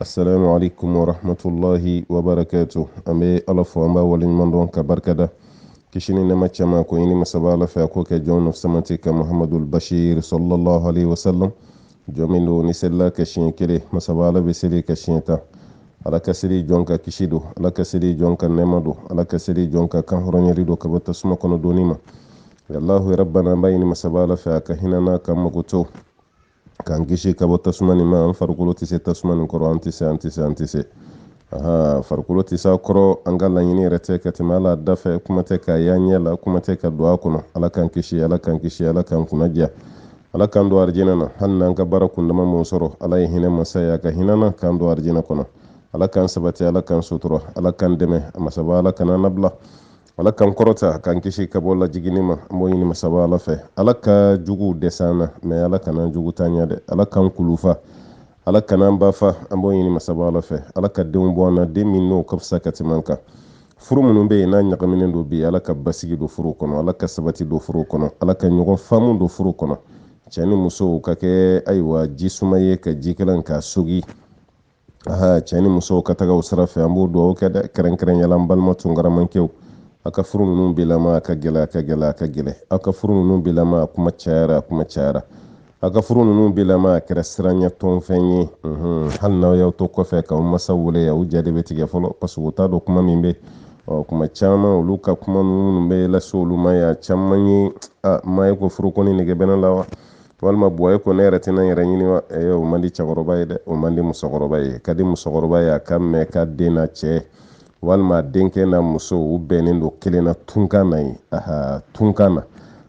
asalaamu alaykum wa rahmatulahi wa barakatu an bɛ ala fo an b'a waleɲuman dɔn ka barika da kisi ni nɛɛma caman k'o ɲini masaba ala fɛ a k'o kɛ jɔn samati ka muhamadul bashir sallallahu alayhi wa sallam jɔn min don n'i selila a kan siɲɛ kelen masaba ala bɛ seli i kan siɲɛ tan ala ka seli jɔn kan kisi don ala ka seli jɔn kan nɛɛma don ala ka seli jɔn kan kan hɔrɔnyali don ka bɔ tasuma kɔnɔ donni ma alahu rabbana an b'a ɲini masaba ala fɛ a ka hinɛ an na k'an makoto k'an kisi ka bɔ tasuma nin ma an farikolo tɛ se tasuma nin kɔrɔ an tɛ se an tɛ se an tɛ se aha an farikolo tɛ se a kɔrɔ an ka laɲini yɛrɛ tɛ ka tɛmɛ a la da fɛ kuma tɛ k'a y'an ɲɛ la kuma tɛ ka don a kɔnɔ ala k'an kisi ala k'an kisi ala k'an kunna diya ala k'an don arijinɛ na hali n'an ka baara kundama m'o sɔrɔ ala ye hinɛ masa ye a ka hinɛ an na k'an don arijinɛ kɔnɔ ala k'an sabati ala k'an sutura ala k'an dɛmɛ a masaba ala kan'an nabila ala k'an kɔrɔta k'an kisi ka bɔ lajiginni ma an b'o ɲini masaba ala fɛ ala ka juguw dɛsɛ an na mɛ ala kan'an jugu ta ɲɛ dɛ ala k'an kulufa ala kan'an ba fa an b'o ɲini masaba ala fɛ ala ka denw bɔ an na den min n'o ka fisa ka tɛmɛ an kan furu minnu bɛ yen n'a ɲagaminen don bi ala ka basigi don furu kɔnɔ ala ka sabati don furu kɔnɔ ala ka ɲɔgɔn faamu don furu kɔnɔ cɛ ni musow ka kɛ ayiwa ji suma ye ka jikalan k'a sogi aha cɛ ni musow ka taga o sira fɛ an b'o dugawu kɛ dɛ kɛrɛnkɛrɛnyala n balima tunkaramacɛw a ka furu ninnu bilama a ka gɛlɛn a ka gɛlɛn a ka gɛlɛn a ka furu ninnu bilama a kuma cayara a kuma cayara a ka furu ninnu bilama a kɛra siranyatɔ fɛn ye hali n'aw y'aw to kɔfɛ k'aw masaw wele u ja de bɛ tigɛ fɔlɔ parce que u t'a dɔn kuma min bɛ ɔ kuma caman olu ka kuma minnu bɛ lase olu ma y'a caman ye a ma ye ko furu kɔni nege bɛ ne la wa walima bɔye ko ne yɛrɛ tɛna n yɛrɛ ɲini wa eh, o man di cɛkɔrɔba ye dɛ o man di musokɔrɔba ye ka di musokɔrɔba ye a k'a mɛn k'a den n'a cɛ walima denkɛ n'a muso u bɛnnen don kelen na tunkan na yen aha tunkan na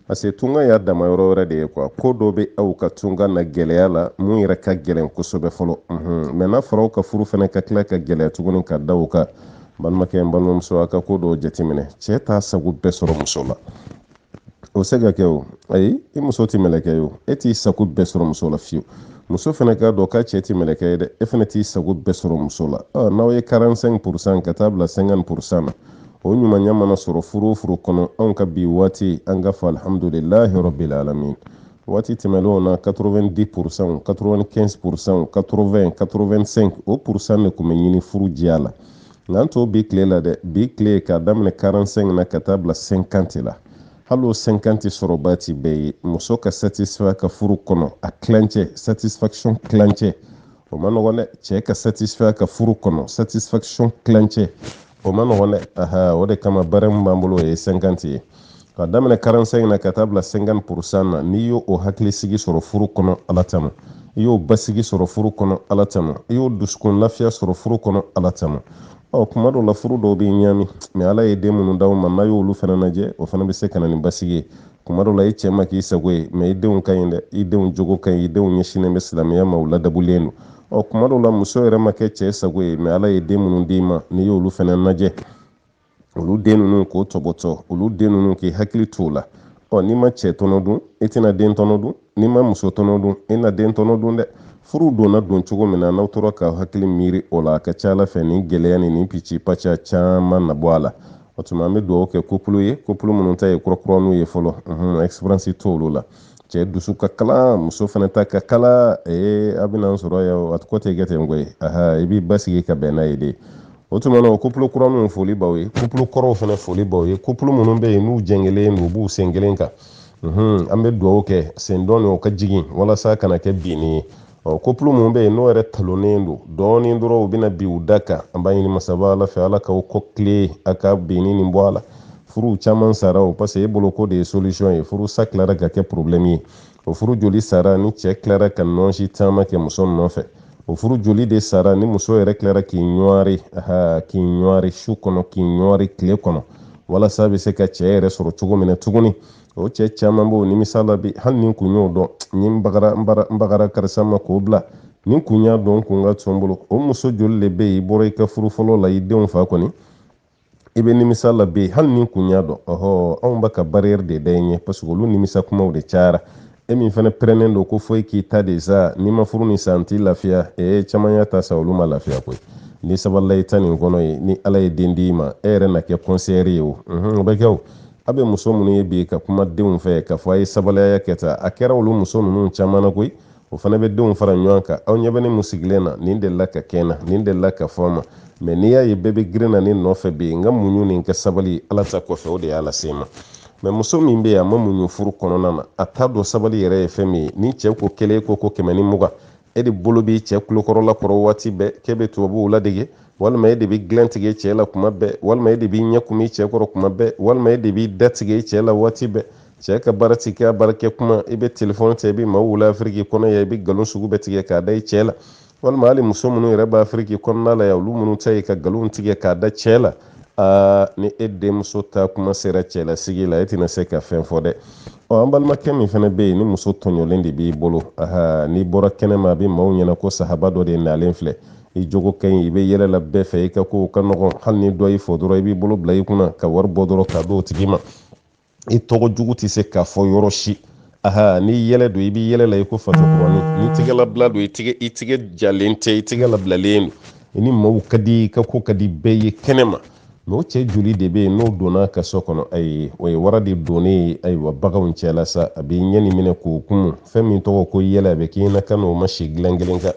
parce que tunkan y'a dama yɔrɔ wɛrɛ de ye kuwa ko dɔ bɛ aw ka tunkan na gɛlɛya la min yɛrɛ ka gɛlɛn kosɛbɛ fɔlɔ mɛ n'a fɔra aw ka furu fana ka tila ka gɛlɛya tuguni ka da aw kan balimakɛ n balimamuso a ka ko dɔw jateminɛ cɛ t'a sago bɛɛ sɔrɔ muso la o se ka kɛ o ayi i muso tɛ mɛlɛkɛ ye o e t'i sago bɛɛ sɔrɔ muso la fiyewu muso fana k'a dɔn k'a cɛ tɛ mɛlɛkɛ ye dɛ e fana t'i sago bɛɛ sɔrɔ muso la n'aw ye 45 purusan ka taa bila 50 purusan na o ɲumanya mana sɔrɔ furu o furu kɔnɔ anw ka bi waati an ka fɔ alihamudulilahi rabbil alamin waati tɛmɛnlenw na 90 purusanw 95 purusanw 80 85 o purusan de tun bɛ ɲini furu diya la nka an tɔw bi tile la dɛ bi tile k'a daminɛ 45 na ka taa bila 50 la hali o 50 sɔrɔbaa tɛ bɛɛ ye muso ka satisfait ka furu kɔnɔ a tilancɛ satisfaction tilancɛ o man nɔgɔn dɛ cɛ ka satisfait ka furu kɔnɔ satisfaction tilancɛ o man nɔgɔn dɛ aha o de kama barɛmu b'an bolo o ye 50 ye ka daminɛ quarante-cinq na ka taa bila cinquante pour cent na n'i y'o hakilisigi sɔrɔ furu kɔnɔ ala tama i y'o basigi sɔrɔ furu kɔnɔ ala tama i y'o dusukun lafiya sɔrɔ furu kɔnɔ ala tama ɔ kuma dɔw la furu dɔw bɛ ɲami mais ala ye den minnu d'aw ma n'aw y'olu fana lajɛ o fana bɛ se ka na ni basigi ye kuma dɔw la i cɛ ma k'i sago ye mais i denw ka ɲi dɛ i denw jogo ka ɲi i denw ɲɛsinnen bɛ silamɛya ma u ladamulen don ɔ kuma dɔw la muso yɛrɛ ma kɛ cɛ sago ye mais ala ye den minnu d'i ma n'i y'olu fana lajɛ olu den ninnu k'o tɔbɔtɔ olu den ninnu k'i hakili to o la ɔ n'i ma cɛ tɔnɔ dun i tɛna den tɔnɔ dun n'i ma muso tɔnɔ dun i na den tɔnɔ dun dɛ furu donna don cogo min na n'aw tora ka hakili miiri o la a ka ca a la fɛ ni gɛlɛya ni nin pici paca caman na bɔ a la o tuma an bɛ dugawu kɛ couple ye couple minnu ta ye kurakuraninw ye fɔlɔ expérience t'olu la cɛ dusu ka kalan muso fana ta ka kalan ee a bɛna sɔrɔ ya a ko tɛ kɛ ten koyi aha i b'i basigi ka bɛn n'a ye de o tuma na o couple kura ninnu foli b'aw ye couple kɔrɔw fana foli b'aw ye couple minnu bɛ yen n'u jɛngɛlen don u b'u sen kelen kan an bɛ dugawu kɛ sen dɔ in o ka jigin walasa a kana kɛ binni ye ɔ couple min bɛ yen n'o yɛrɛ talonnen don dɔɔnin dɔrɔn u bɛna bin u da kan an b'a ɲini masaba ala fɛ ala k'aw kɔ tilen a ka binni nin bɔ a la furuw caman sara o parce que e bolo k'o de ye solution ye furu sa tilara ka kɛ problème ye o furu joli sara ni cɛ tilara ka nɔnsi taama kɛ muso nɔfɛ o furu joli de sara ni muso yɛrɛ tilara k'i ɲɔɔri aha k'i ɲɔɔri su kɔnɔ k'i ɲɔɔri tile kɔnɔ walasa a bɛ se ka cɛ yɛrɛ sɔrɔ cogo min na tuguni o cɛ caman b'o nimisa la bi hali ni n kun y'o dɔn ni n bagara n bagara karisa ma k'o bila ni n kun y'a dɔn kun ka to n bolo o muso joli de bɛ yen i bɔra i ka furu fɔlɔ la i denw fa kɔni i bɛ nimisa la bi hali ni n kun y'a dɔn ɔhɔ anw bɛ ka barrière de da i ɲɛ parce que olu nimisa kumaw de cayara e min fana pɛrɛnnen don ko fo i k'i ta de sa ni n ma furu nin sa n tɛ lafiya ee caman y'a ta sa olu ma lafiya koyi n'i sabalila i ta nin kɔnɔ ye ni ala ye den di i ma e yɛrɛ na kɛ conseillère ye o o bɛ kɛ o aw bɛ muso minnu ye bi ka kuma denw fɛ k'a fɔ a ye sabali a y'a kɛ tan a kɛra olu muso ninnu caman na koyi o fana bɛ denw fara ɲɔgɔn kan aw ɲɛ bɛ ne min sigilen na nin delila ka kɛ n na nin delila ka fɔ n ma mais n'i y'a ye bɛɛ bɛ girin na ne nɔfɛ bi n ka muɲu ni n ka sabali ala ta kɔfɛ o de y'a lase n ma mais muso min bɛ yen a ma muɲu furu kɔnɔna na a t'a dɔn sabali yɛrɛ ye fɛn min ye ni cɛ ko kelen ko ko kɛmɛ ni mugan e de bolo b'i cɛ kulokɔrɔla kɔrɔ waati bɛɛ k'e bɛ tubabuw ladege walima e de bɛ dilan tigɛ i cɛ la kuma bɛɛ walima e de b'i ɲɛ kumu i cɛ kɔrɔ kuma bɛɛ walima e de b'i da tigɛ i cɛ la waati bɛɛ cɛ ka baara ti kɛ baarakɛ kuma i bɛ telefɔni ta i bɛ maaw wele afiriki kɔnɔ yan i bɛ nkalon sugu bɛɛ tigɛ k'a da i cɛ la walima hali muso minnu yɛrɛ bɛ afiriki kɔnɔna la yan olu minnu ta ye ka nkalon tigɛ k'a da cɛ la aa ni e denmuso ta kuma sera cɛlasigi la e tɛna se ka fɛn fɔ dɛ ɔ an balimakɛ min fana bɛ yen ni muso tɔɲɔlen de b'i bolo aha n'i bɔra kɛnɛma a bɛ maaw ɲɛna ko sahaba dɔ de nalen filɛ i jogo ka ɲi i bɛ yɛlɛ la bɛɛ fɛ i ka kow ka nɔgɔn hali ni dɔ y'i fo dɔrɔn i b'i bolo bila i kunna ka wari bɔ dɔrɔn k'a d'o tigi ma i tɔgɔ jugu tɛ se ka fɔ yɔrɔ si aha ni yɛlɛ don i b'i yɛlɛ la i ko fatɔkɔrɔni ni tigɛlabila don i tigɛ i tigɛ jalen tɛ i tigɛ labilalen don i ni maaw ka di i ka ko ka di bɛɛ ye kɛnɛ ma mais o cɛ joli de bɛ yen n'o donna ka so kɔnɔ ayi o ye wara de donnen ye ayiwa baganw cɛla sa a bɛ ɲɛ nin minɛ k'o kumu fɛn min tɔgɔ ko yɛlɛ a bɛ k'i ɲɛna k'a n'o ma si dilan kelen kan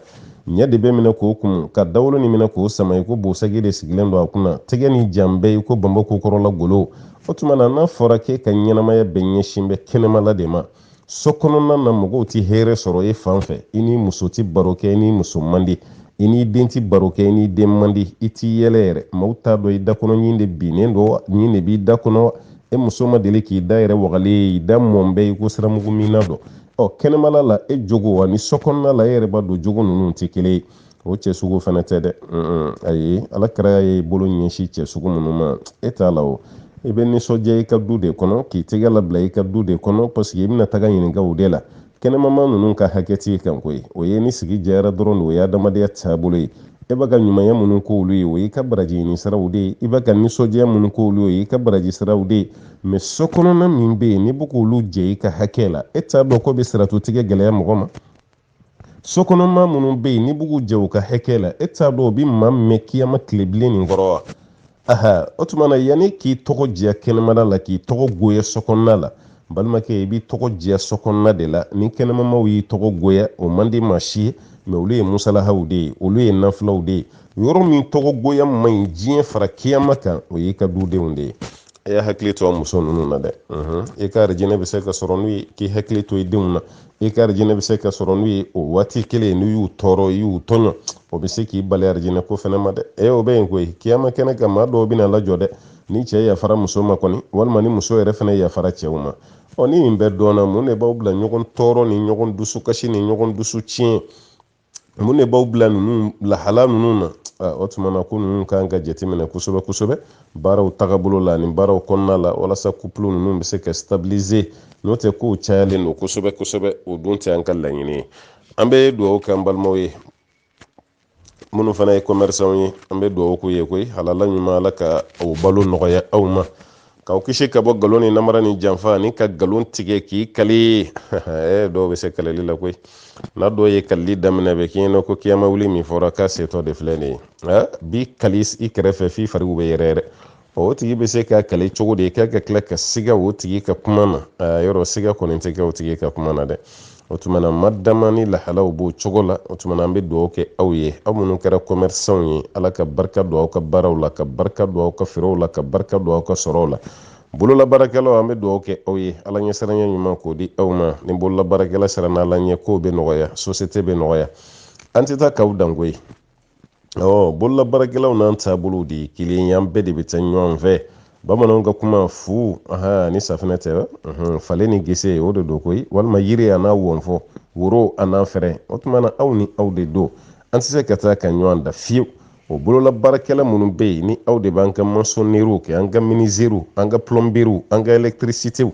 ɲɛ de bɛ minɛ k'o kumu ka dawolo nin minɛ k'o sama i ko bosagi de sigilen don a kunna tɛgɛ nin jalen bɛ i ko banba kokɔrɔla golo o tuma na n'a fɔra k'e ka ɲɛnamaya bɛɛ ɲɛsin bɛ kɛnɛmala de ma so kɔnɔna na mɔgɔw tɛ hɛrɛ sɔrɔ e fan fɛ i ni muso tɛ baro kɛ i ni muso man di i n'i den tɛ baro kɛ i n'i den man di i t'i yɛlɛ yɛrɛ maaw t'a dɔn i da kɔnɔ ɲin de binnen don wa ɲin de b'i da kɔnɔ e muso ma deli k'i da yɛrɛ wagalen ye i da mɔn bɛ i ko siramugu minna don ɔ kɛnɛmala la e jogo ani so kɔnɔna la e yɛrɛ b'a dɔn jogo ninnu tɛ kelen ye o cɛ sugu fana tɛ dɛ ayi ala kira ye bolo ɲɛsin cɛ sugu minnu ma e t'a la o i bɛ nisɔndiya i ka du de kɔnɔ k'i tɛgɛ labila i ka du de kɔnɔ parce que i bɛna taga ɲininka o de la kɛnɛmama ninnu ka hakɛ t'i kan koyi o ye ni sigi jɛyara dɔrɔn de o ye adamadenya taabolo ye e bɛ ka ɲumanya minnu k'olu ye o y'i ka baraji ɲini siraw de ye i bɛ ka nisɔndiya minnu k'olu ye i ka baraji siraw de ye mais so kɔnɔna min bɛ yen n'i bɛ k'olu jɛ i ka hakɛ la e t'a dɔn k'o bɛ siratu tigɛ gɛlɛya mɔgɔ ma so kɔnɔma minnu bɛ yen n'i bɛ k'u jɛ u ka hakɛ la e t'a dɔn o bɛ maa mɛn kiyama tilebilen nin kɔrɔ wa aha o tuma na yanni k'i tɔgɔ diya kɛnɛmada la k'i tɔgɔ goya so kɔnɔna la balimakɛ i b'i tɔgɔ diya so kɔnɔna de la ni kɛnɛmamaw y'i tɔgɔ goya o man di maa si ye mais olu ye musalahaw de ye olu ye nafilaw de ye yɔrɔ min tɔgɔ goya man ɲi diɲɛ fara kiyama kan o y'i ka dudenw de ye a y'a hakili to a muso ninnu na dɛ i ka arijinɛ bɛ se ka sɔrɔ n'u ye k'i hakili to i denw na i ka arijinɛ bɛ se ka sɔrɔ n'u ye o waati kelen n'i y'u tɔɔrɔ i y'u tɔɲɔ o bɛ se k'i bali arijinɛ ko fana ma dɛ e o bɛ yen koyi kiyama kɛnɛ kan maa dɔw bɛna lajɔ dɛ ni cɛ yafara muso ma kɔni walima ni muso yɛrɛ fana yafara cɛw ma ɔ ni nin bɛɛ dɔnna mun de b'aw bila ɲɔgɔn tɔɔrɔ ni ɲɔgɔn dusukasi ni ɲɔgɔn dusu tiɲɛ mun de b'aw bila ninnu lahala ninnu na o tuma na ko ninnu ka kan ka jateminɛ kosɛbɛ kosɛbɛ baaraw tagabolo la ani baaraw kɔnɔna la walasa couple ninnu bɛ se ka stabiliser n'o tɛ kow cayalen don kosɛbɛ kosɛbɛ o dun tɛ an ka laɲini ye an bɛ dugawu kɛ an balimaw ye minnu fana ye commerçant ye an bɛ dugawu k'u ye koyi halala ɲuman ala ka o balo nɔgɔya aw ma k'aw kisi ka bɔ nkalon ni namara ni janfa ani ka nkalon tigɛ k'i kali eh, dɔw bɛ se kalili la koyi n'a dɔw ye kalili daminɛ bɛ k'i ɲɛna ko kiyama wuli min fɔra k'a setɔ de filɛ nin ye eh, b'i kali i kɛrɛfɛ f'i fariw bɛ yɛrɛ yɛrɛ o tigi bɛ se ka kali cogo di k'a ka tila ka siga o tigi ka kuma na eh, yɔrɔ siga kɔni tɛ kɛ o tigi ka kuma na dɛ o tuma na ma dama ni lahalaw b'o cogo la o tuma na an bɛ dugawu kɛ aw ye aw minnu kɛra kɔmɛrisanw ye ala ka barika don aw ka baaraw la ka barika don aw ka feerew la ka barika don aw ka sɔrɔw la bololabaarakɛlaw an bɛ dugawu kɛ aw ye ala ɲɛsiranya ɲuman k'o di aw ma ni bololabaarakɛla siranna ala ɲɛ kow bɛ nɔgɔya sosiyete bɛ nɔgɔya an tɛ taa k'aw dan koyi ɔ bolola baarakɛlaw n'an taabolow de ye kelen ye an bɛɛ de bɛ taa ɲɔgɔn fɛ bamananw ka kuma fu ni safinɛ tɛ falen ni gese o de don koyi walima yiri a n'a wɔfɔ woro a n'a fɛɛrɛ o tuma na aw ni aw de don an tɛ se ka taa ka ɲɔgɔn dan fiyewu o bolola baarakɛla minnu bɛ yen ni aw de b'an ka masɔnneriw kɛ an ka minizeriw an ka pulɔnbiriw an ka elɛkitirisitew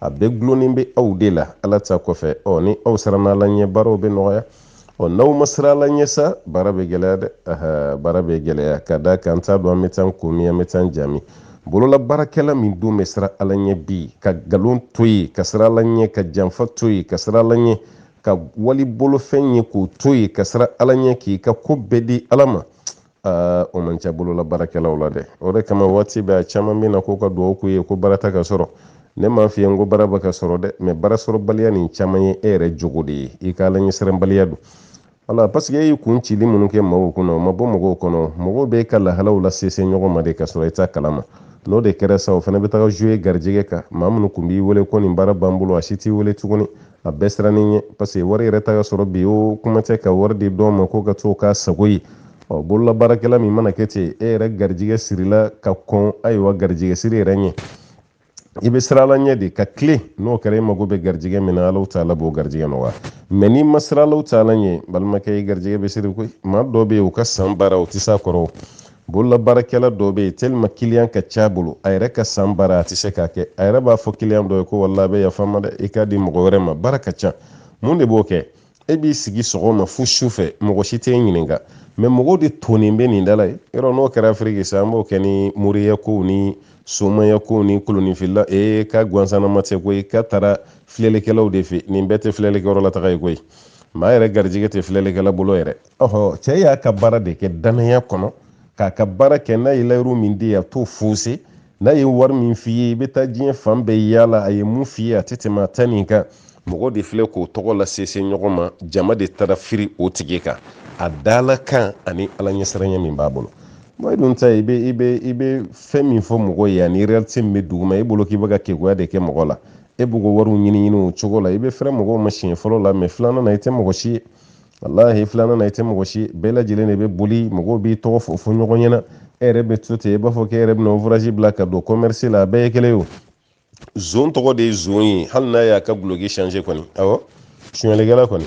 a bɛɛ dulonnen bɛ aw de la ala ta kɔfɛ ɔ ni aw siranna ala ɲɛ baaraw bɛ nɔgɔya ɔ n'aw ma siran ala ɲɛ sa baara bɛ gɛlɛya dɛ aha baara bɛ gɛlɛya ka d'a kan n t'a dɔn an bɛ taa ko min an bɛ taa jami bolola baarakɛla min don bɛ siran ala ɲɛ bi ka nkalon to yen ka siran ala ɲɛ ka janfa to yen ka siran ala ɲɛ ka wali bolofɛn ye k'o to yen ka siran ala ɲɛ k'i ka ko bɛɛ di ala ma aa o man ca bolola baarakɛlaw la dɛ o de kama waati bɛɛ a caman bɛ na ko ka dugawu k'u ye ko baara tɛ ka sɔrɔ ne m'a f'i ye n ko baara bɛ ka sɔrɔ dɛ mɛ baara sɔrɔbaliya nin caman ye e yɛrɛ jogo de ye i ka alaɲɛsiranbaliya don wala paseke e y'i kun cili minnu kɛ mɔgɔw kɔnɔ o ma bɔ mɔgɔw kɔnɔ mɔgɔw bɛ ka lahalaw lasese ɲɔgɔn ma de ka sɔrɔ i t'a kalama n'o de kɛra sa o fana bɛ taga zuye garijɛgɛ kan maa minnu kun b'i wele ko nin baara b'an bolo a si t'i wele tuguni a bɛɛ sirannen i ɲɛ paseke wari yɛrɛ tɛ ka sɔrɔ bi o kuma tɛ ka wari di dɔw ma ko ka to k'a sago ye ɔ bololabaarakɛla min mana kɛ ten e yɛrɛ garijigɛ sirila ka kɔn ayiwa garijigɛ siri yɛrɛ ɲɛ i bɛ siran ala ɲɛ de ka tilen n'o kɛra i mago bɛ garijigɛ min na alahu taala b'o garijigɛ nɔgɔya mɛ n'i ma siran alahu taala ɲɛ balimakɛ i garijigɛ bɛ siri koyi maa dɔw bɛ yen u ka san baara u tɛ s'a kɔrɔ bololabaarakɛla dɔ bɛ yen tɛlɛman kiliyan ka c'a bolo a yɛrɛ ka san baara a tɛ se k'a kɛ a yɛrɛ b'a fɔ kiliyan dɔ ye ko walayi a bɛ yafa n ma dɛ i k'a di mɔgɔ wɛrɛ ma baara ka ca mun de b'o kɛ e b'i sigi sɔgɔma fo su fɛ mɔgɔ si t'e ɲininka mɛ mɔgɔw de tonnen bɛ nin dala ye yɔrɔ n'o kɛra afiriki sa an b'o kɛ ni moriya kow ni somaya kow ni koloninfili ee k'a gansanama tɛ koyi k'a taara filɛlikɛlaw de fɛ nin bɛɛ tɛ filɛlikɛyɔrɔ la taga ye koyi maa yɛrɛ garijɛgɛ tɛ filɛlikɛla bolo yɛrɛ ɔhɔ cɛ y'a ka baara de kɛ danaya kɔnɔ k'a ka baara kɛ n'a ye layiru min di a t'o foose n'a ye wari min f'i ye i bɛ taa diɲɛ fan bɛɛ yaala a ye mun f'i ye a tɛ tɛmɛ a ta nin kan mɔgɔw de filɛ k'o tɔgɔ lasese ɲɔgɔn ma jama de taara firi o tigi kan a dala kan ani ala ɲɛsiranya min b'a bolo mɛ e dun ta i bɛ i bɛ i bɛ fɛn min fɔ mɔgɔ ye ani realite min bɛ duguma e bolo k'i bɛ ka keguya de kɛ mɔgɔ la e b'u ka wariw ɲini ɲini o cogo la i bɛ fɛrɛ mɔgɔw ma siɲɛ fɔlɔ la mɛ filanan na i tɛ mɔgɔ si ye walahi filanan na i tɛ mɔgɔ si ye bɛɛ lajɛlen de bɛ boli mɔgɔw b'i tɔgɔ fɔ fɔ ɲɔgɔn ɲɛna e yɛrɛ bɛ to ten i b'a fɔ k'e yɛrɛ bɛna uvurasi bila ka don kɔmɛrisi la a bɛɛ ye kelen ye o zon tɔgɔ de ye zon ye hali n'a y'a ka guloki shanse kɔni awɔ suɲɛlikɛla kɔni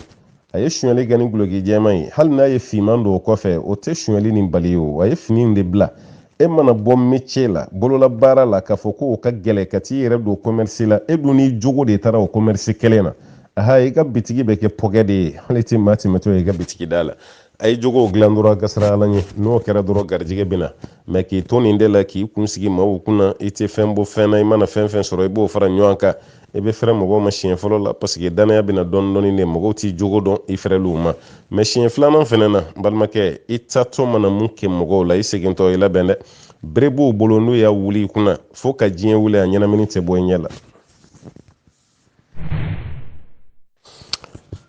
a ye suɲɛli kɛ ni guloki jɛman ye hali n'a ye finman don o kɔfɛ o tɛ suɲɛli nin bali o a ye fini in de bila e mana bɔ metiye la bolola baara la k'a fɔ ko o ka gɛlɛ ka t'i yɛrɛ don kɔmɛrisi la e dun n'i jogo de taara o kɔmɛrisi kelen na aha i ka bitigi bɛ kɛ pɔkɛ de ye hali i tɛ maa tɛmɛtɔ ye i ka bitigi da la a ye jogow dilan dɔrɔn ka siran ala ɲɛ n'o kɛra dɔrɔn garijɛgɛ bɛ na mɛ k'i to nin de la k'i kun sigi maaw kunna i tɛ fɛn bɔ fɛn na i mana fɛn fɛn sɔrɔ i b'o fara ɲɔgɔn kan i bɛ fɛrɛ mɔgɔw ma siɲɛ fɔlɔ la paseke danaya bɛ na dɔɔni dɔɔni de mɔgɔw t'i jogo dɔn i fɛrɛl'u ma mɛ siɲɛ filanan fɛnɛ na balimakɛ i taatɔ mana mun kɛ mɔgɔw la i segintɔ i labɛn dɛ bere b'u bolo n'u y'a wuli i kunna fo ka diɲɛ wuli a ɲɛnamini tɛ bɔ i ɲɛ la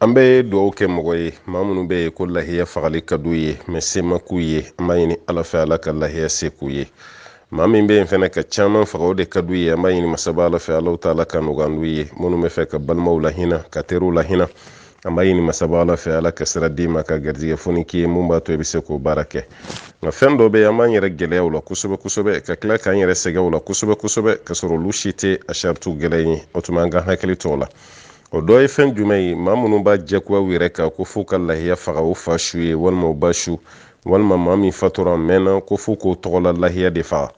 an bɛ dugawu kɛ mɔgɔ ye maa minnu bɛ yen ko lahiya fagali ka d'u ye mɛ se ma k'u ye an b'a ɲini ala fɛ ala ka lahiya se k'u ye maa min bɛ yen fɛnɛ ka caman faga o de ka d'u ye an b'a ɲini masaba ala fɛ alahu taala ka nɔgɔya n'u ye minnu b'a fɛ ka balimaw lahinɛ ka teriw lahinɛ an b'a ɲini masaba ala fɛ ala ka sira d'i ma ka garijɛgɛ foni k'i ye mun b'a to i bɛ se k'o baara kɛ nka fɛn dɔ bɛ yen an b'an yɛrɛ gɛlɛya o la kosɛbɛ kosɛbɛ ka tila k'an yɛrɛ sɛgɛn o la kosɛbɛ kosɛbɛ ka sɔrɔ olu si tɛ a saritiw gɛlɛya ye o tuma an ka hakili to o la o dɔ ye fɛn jumɛn ye maa minnu b'a jɛkuya u yɛrɛ kan ko f'u ka lahiya faga u fa su ye walima u ba su walima maa min fatura mɛnna ko f'u k'o tɔgɔla lahiya de faga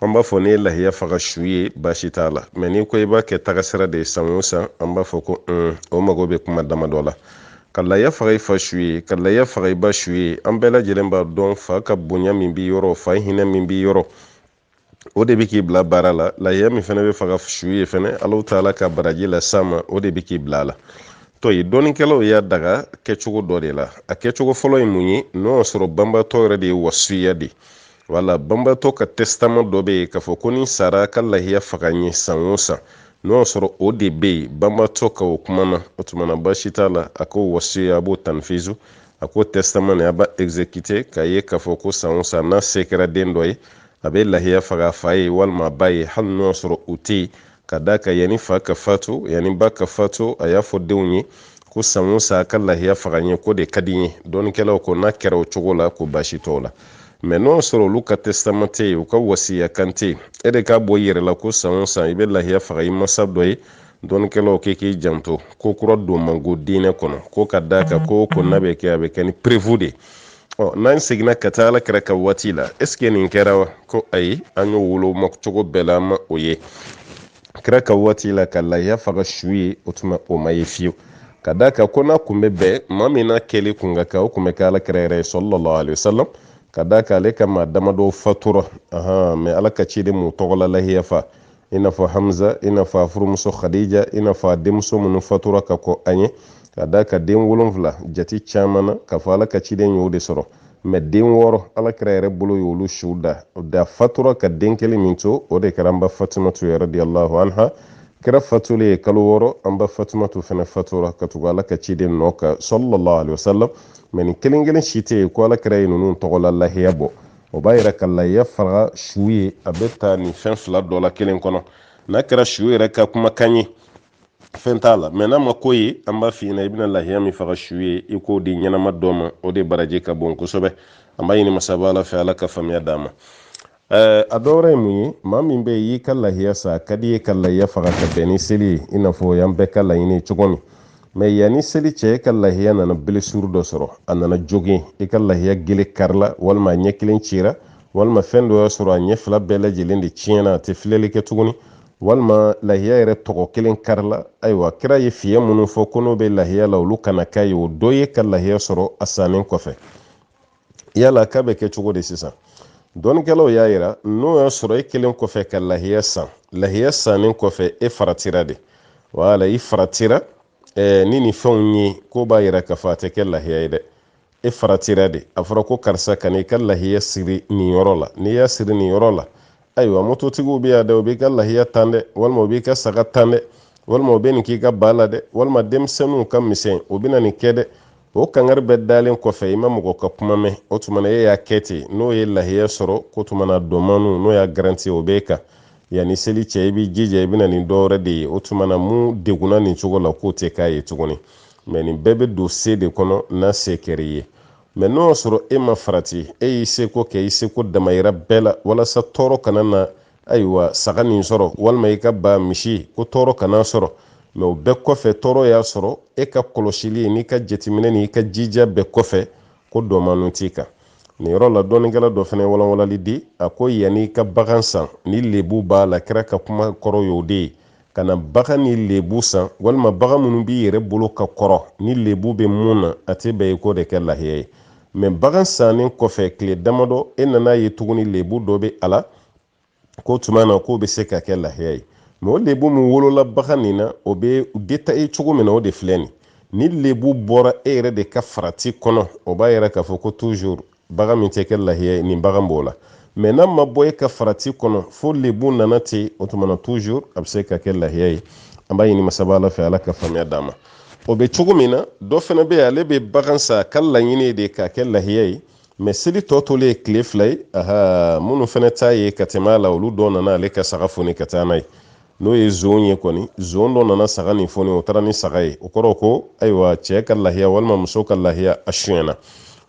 an b'a fɔ n'i ye lahiya faga su ye baasi t'a la mɛ n'i ko i b'a kɛ tagasira de ye san o san an b'a fɔ ko un o mago bɛ kuma damadɔ la ka lahiya faga i fa su ye ka lahiya faga i ba su ye an bɛɛ lajɛlen b'a dɔn fa ka bonya min b'i yɔrɔ fa hinɛ min b'i yɔrɔ o de bɛ k'i bila baara la lahiya min fɛnɛ bɛ faga su ye fɛnɛ alahu taala ka baraji las'a ma o de bɛ k'i bila a la dɔnnikɛlaw y'a daga kɛcogo dɔ de la a kɛcogo fɔlɔ ye mun ye n'o y'a sɔrɔ banbatɔ yɛrɛ de ye wasiya de wala banbatɔ ka tɛsitama dɔ bɛ yen k'a fɔ ko ni n sara ka lahiya faga n ye san o san n'o y'a sɔrɔ o de bɛ yen banbatɔ ka o kuma na o tuma na baasi t'a la a k'o wasiya a b'o tanfizu a k'o tɛsitama a b'a ezekite k'a ye k'a fɔ ko san o san n'a se kɛra den dɔ ye a bɛ lahiya faga a fa ye walima a ba ye hali n'o y'a sɔrɔ u tɛ yen ka d'a kan yanni fa ka fatu yanni ba ka fatu a y'a fɔ denw ye ko san o san a ka lahiya faga n ye k'o de ka di n ye dɔnnikɛlaw ko n'a kɛra o cogo la ko baasi t'o la mɛ n'o y'a sɔrɔ olu ka tɛsitama tɛ yen u ka wasiya kan tɛ yen e de k'a bɔ i yɛrɛ la ko san o san i bɛ lahiya faga i masa dɔ ye dɔnnikɛlaw k'i k'i janto ko kura don man go diinɛ kɔnɔ ko ka d'a kan ko ko n'a bɛ kɛ a bɛ kɛ ni preuve de ɔ n'an seginna ka taa ala kira ka waati la est-ce que nin kɛra wa ko ayi an y'o woloma cogo bɛɛ la an ma o ye kira ka waati la ka lahiya faga su ye o tuma o ma ye fiyewu ka d'a kan ko n'a kun bɛ bɛn maa min n'a kɛli kun ka kan o kun bɛ kɛ ala kira yɛrɛ ye sallallahu alaihi wasallam ka d'a kan ale ka maa damadɔ fatura mɛ ala ka ciden m'u tɔgɔla lahiya fa i n'a fɔ hamza i n'a fɔ a furumuso khadija i n'a fɔ a denmuso minnu fatura ka kɔn a ɲɛ ka d'a kan den wolonfila jati caman na k'a fɔ ala ka ciden y'o de sɔrɔ mɛ den wɔɔrɔ ala kira yɛrɛ bolo y'olu suw da da fatura ka den kelen min to o de kɛra an ba fatumatu radiyallahu anha kira fatulen ye kalo wɔɔrɔ an ba fatumatu fana fatura ka tugu ala ka ciden nɔ kan sallallahu alaihi wasallam mɛ nin kelen kelen si tɛ yen ko ala kira ye ninnu tɔgɔla lahiya bɔ o b'a yira ka lahiya faga su ye a bɛ ta nin fɛn fila dɔ la kelen kɔnɔ n'a kɛra su yɛrɛ ka kumakan ye fɛn t'a la mɛ n'a ma k'o ye an b'a f'i ɲɛna i bɛna lahiya min faga su ye i k'o di ɲɛnama dɔ ma o de baraji ka bon kosɛbɛ an b'a ɲini masaba ala fɛ ala ka faamuya d'an ma Eh, a dɔwɛrɛ ye mun ye maa min bɛ y'i ka lahiya san a ka d'i ye ka lahiya faga ka bɛn ni seli ye i n'a fɔ y'an bɛɛ ka laɲini cogo min mɛ yanni seli cɛ e ka lahiya nana blessure dɔ sɔrɔ a nana jogin e ka lahiya gele karila walima a ɲɛ kelen cira walima fɛn dɔ y'a sɔrɔ a ɲɛ fila bɛɛ lajɛlen de tiɲɛna a tɛ filɛli kɛ tuguni walima lahiya yɛrɛ tɔgɔ kelen karila ayiwa kira ye fiɲɛ minnu fɔ ko n'o bɛ lahiya la olu kana k'a ye o dɔ y'e ka lahiya sɔrɔ a sannen kɔfɛ yala k'a bɛ kɛ cogo di sisan dɔnnikɛlaw y'a yira n'o y'a sɔrɔ e kɛlen kɔfɛ ka lahiya san lahiya sannen kɔfɛ e faratira de wala i faratira eh, ni nin fɛnw ye k'o b'a yira k'a fɔ a tɛ kɛ lahiya ye dɛ e faratira de a fɔra ko karisa kan'i ka lahiya siri nin yɔrɔ la n'i y'a siri nin yɔrɔ la ayiwa mototigiw bɛ yan dɛ o b'i ka lahiya tan dɛ walima o b'i ka saga tan dɛ walima o bɛ nin k'i ka ba la dɛ walima denmisɛnninw ka misɛn o bɛna nin kɛ dɛ o kangari bɛɛ dalen kɔfɛ i ma mɔgɔ ka kuma mɛn o tuma na e y'a kɛ ten n'o ye lahiya sɔrɔ k'o tuma na dɔmanu n'o y'a garanti o b'e kan yanni seli cɛ i b'i jija i bɛ na ni dɔwɛrɛ de ye o tuma na min degunna nin cogo la k'o tɛ k'a ye tuguni mɛ nin bɛɛ bɛ don se de kɔnɔ n'a se kɛr'i ye mɛ n'o y'a sɔrɔ e ma farati e y'i seko kɛ i seko damayira bɛɛ la walasa tɔɔrɔ kana na ayiwa saga nin sɔrɔ walima i ka ba misi ko tɔɔrɔ kan'a sɔrɔ mɛ o bɛɛ kɔfɛ tɔɔrɔ y'a sɔrɔ e ka kɔlɔsili n'i ka jateminɛ n'i ka jija bɛɛ kɔfɛ ko dɔmanu t'i kan nin yɔrɔ la dɔnnikɛla dɔ fana walanwalali di a ko yanni i ka bagan san ni lebu b'a la kira ka kuma kɔrɔ y'o de ye kana bagan ni lebu san walima bagan minnu b'i yɛrɛ bolo ka kɔrɔ ni lebu bɛ mun na a tɛ bɛn i k'o de kɛ lahiya ye mɛ bagan sannen kɔfɛ tile damadɔ e nana ye tuguni lebu dɔ bɛ a la ko tuma na k'o bɛ se ka kɛ lahiya ye mɛ o lebu min wolola bagan nin na o bɛ détaillé cogo min na o de filɛ nin ni lebu bɔra e yɛrɛ de ka farati kɔnɔ o b'a yira k'a fɔ ko toujours bagan min tɛ kɛ lahiya ye nin bagan b'o la mɛ n'a ma bɔ e ka farati kɔnɔ fo lebu nana ten o tumana toujours a bɛ se ka kɛ lahiya ye an b'a ɲini masaba ala fɛ ala ka faamuya d'an ma o bɛ cogo min na dɔ fana bɛ yen ale bɛ bagan san ka laɲini de k'a kɛ lahiya ye mɛ seli tɔ tolen ye tile fila ye aha minnu fana t'a ye ka tɛmɛ a la olu dɔw nana ale ka saga foni ka taa n'a ye n'o ye zon ye kɔni zon dɔ nana saga nin foni o taara ni saga ye o kɔrɔ ko ayiwa cɛ ka lahiya walima muso ka lahiya a suyɛna